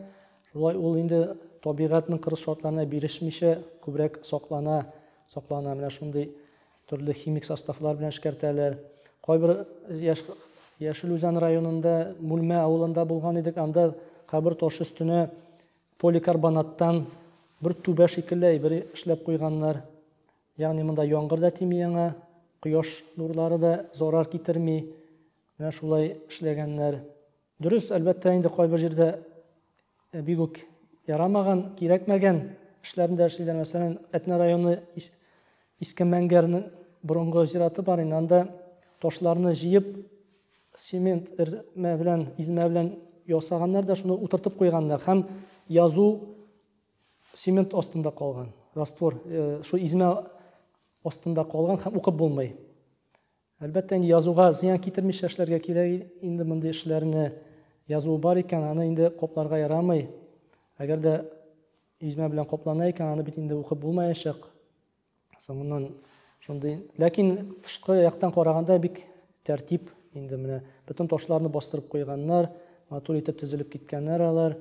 Шулай ул инде табигатьнең кырыс шартларына бирешмичә күбрәк саклана, саклана. Менә шундый төрле химик составлар белән эшкәртәләр. Кайбер яш Яшел Үзән районында Мүлмә авылында булган идек, анда кабер таш өстенә Поликарбонаттан бер түбә шикелле әйбер эшләп куйганнар. Ягъни монда яңгыр да тими яңа, кояш нурлары да зарар китерми. Менә шулай эшләгәннәр. Дөрес, әлбәттә, инде кайбер җирдә э, бик үк ярамаган, кирәкмәгән эшләрне дә эшлиләр. Мәсәлән, Әтнә районы Иске Мәңгәрнең борынгы зираты бар инде. Анда ташларны җыеп, Цемент эрмә белән, измә белән ясаганнар да шуны утыртып куйганнар һәм язу цемент астында калган. Раствор э, шул измә астында калган һәм укып булмый. Әлбәттә, инде язуга зыян китермичә эшләргә кирәк. Инде мондый эшләрне язу бар икән, аны инде копларга ярамый. Әгәр дә измә белән коплана икән, аны бит инде укып булмаячак. Соңыннан шундый, ләкин тышкы яктан караганда бик тәртип инде менә бөтен ташларны бастырып куйганнар, матур итеп тезелеп киткәннәр алар.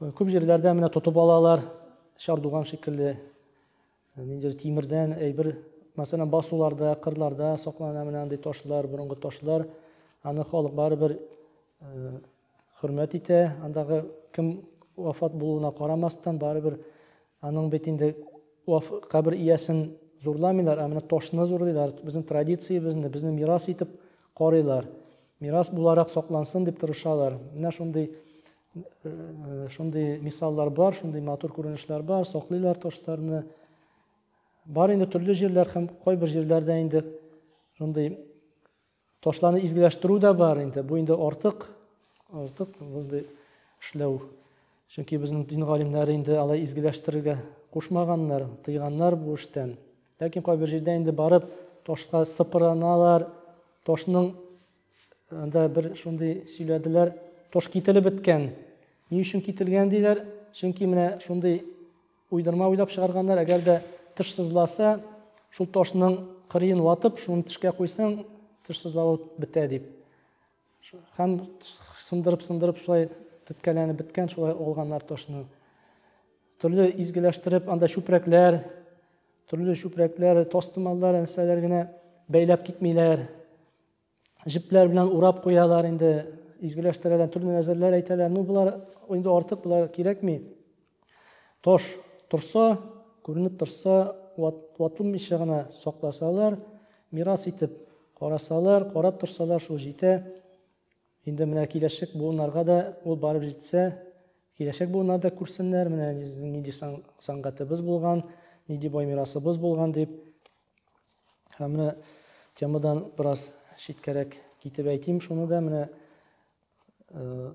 Күп җирләрдә менә тотып алалар, чардуган шикелле нинди тимердән әйбер, мәсәлән, басуларда, кырларда саклана менә андый ташлар, борынгы ташлар. Аны халык барыбер Хөрмәт итә, андагы кем вафат булуына карамастан, барыбер аның бит инде кабер иясен зурламыйлар, ә менә ташны зурлыйлар, безнең традициябезне, безне мирас итеп карыйлар. Мирас буларак саклансын дип тырышалар. Менә шундый э, шундый мисаллар бар, шундый матур күренешләр бар, саклыйлар ташларны. Бар инде төрле җирләр һәм кайбер җирләрдә инде шундый Ташларны изгеләштерү дә бар инде. Бу инде артык, артык мондый эшләү. Чөнки безнең дин галимнәре инде алай изгеләштерергә кушмаганнар, тыйганнар бу эштән. Ләкин кайбер җирдә инде барып ташка сыпыраналар, ташның анда бер шундый сөйләделәр, таш кителеп беткән. Ни өчен кителгән диләр? Чөнки менә шундый Уйдырма уйлап чыгарганнар, әгәр дә тыш сызласа, шул ташның кырыен ватып, шуны тешкә куйсаң, тыш сызлавы бетә дип. Һәм сындырып-сындырып шулай төткәләнеп беткән, шулай алганнар ташны. Төрле изгеләштереп, анда чүпрәкләр, төрле чүпрәкләр, тастымаллар, нәрсәләр генә бәйләп китмиләр. җепләр белән урап куялар инде, изгеләштерәләр, төрле нәзерләр әйтәләр. Ну, болар инде артык, болар кирәкми. Таш торса, күренеп торса, ват, ватылмыйча гына сакласалар, мирас итеп карасалар, карап торсалар, шул җитә. Инде менә киләчәк буыннарга да ул барып җитсә, киләчәк буыннар да күрсеннәр, менә нинди сәнгатебез булган, нинди бай мирасыбыз булган дип. Һәм менә темадан бераз читкәрәк китеп әйтим шуны да, менә э,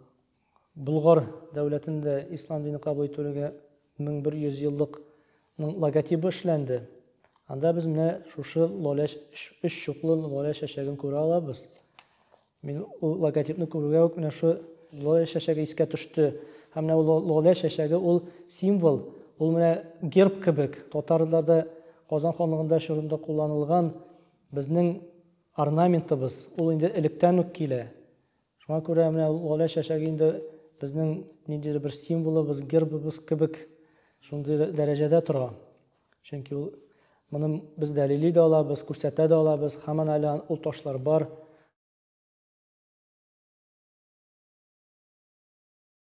Болгар дәүләтендә ислам дине кабул итүгә 1100 еллыкның логотибы эшләнде. Анда без менә шушы лоля өч чуклы лоля чәчәген күрә алабыз. Мин ул логотипны күрүгә үк менә шу лоля чәчәге искә төште. Һәм менә ул лоля чәчәге ул символ, ул менә герб кебек. Татарларда Казан ханлыгында чорында кулланылган безнең орнаментыбыз, ул инде электән үк килә. Шуңа күрә менә лоля чәчәге инде безнең ниндидер бер символыбыз, гербыбыз кебек шундый дәрәҗәдә тора. Чөнки ул моны без дәлили дә алабыз, күрсәтә дә алабыз, һаман әле ул ташлар бар.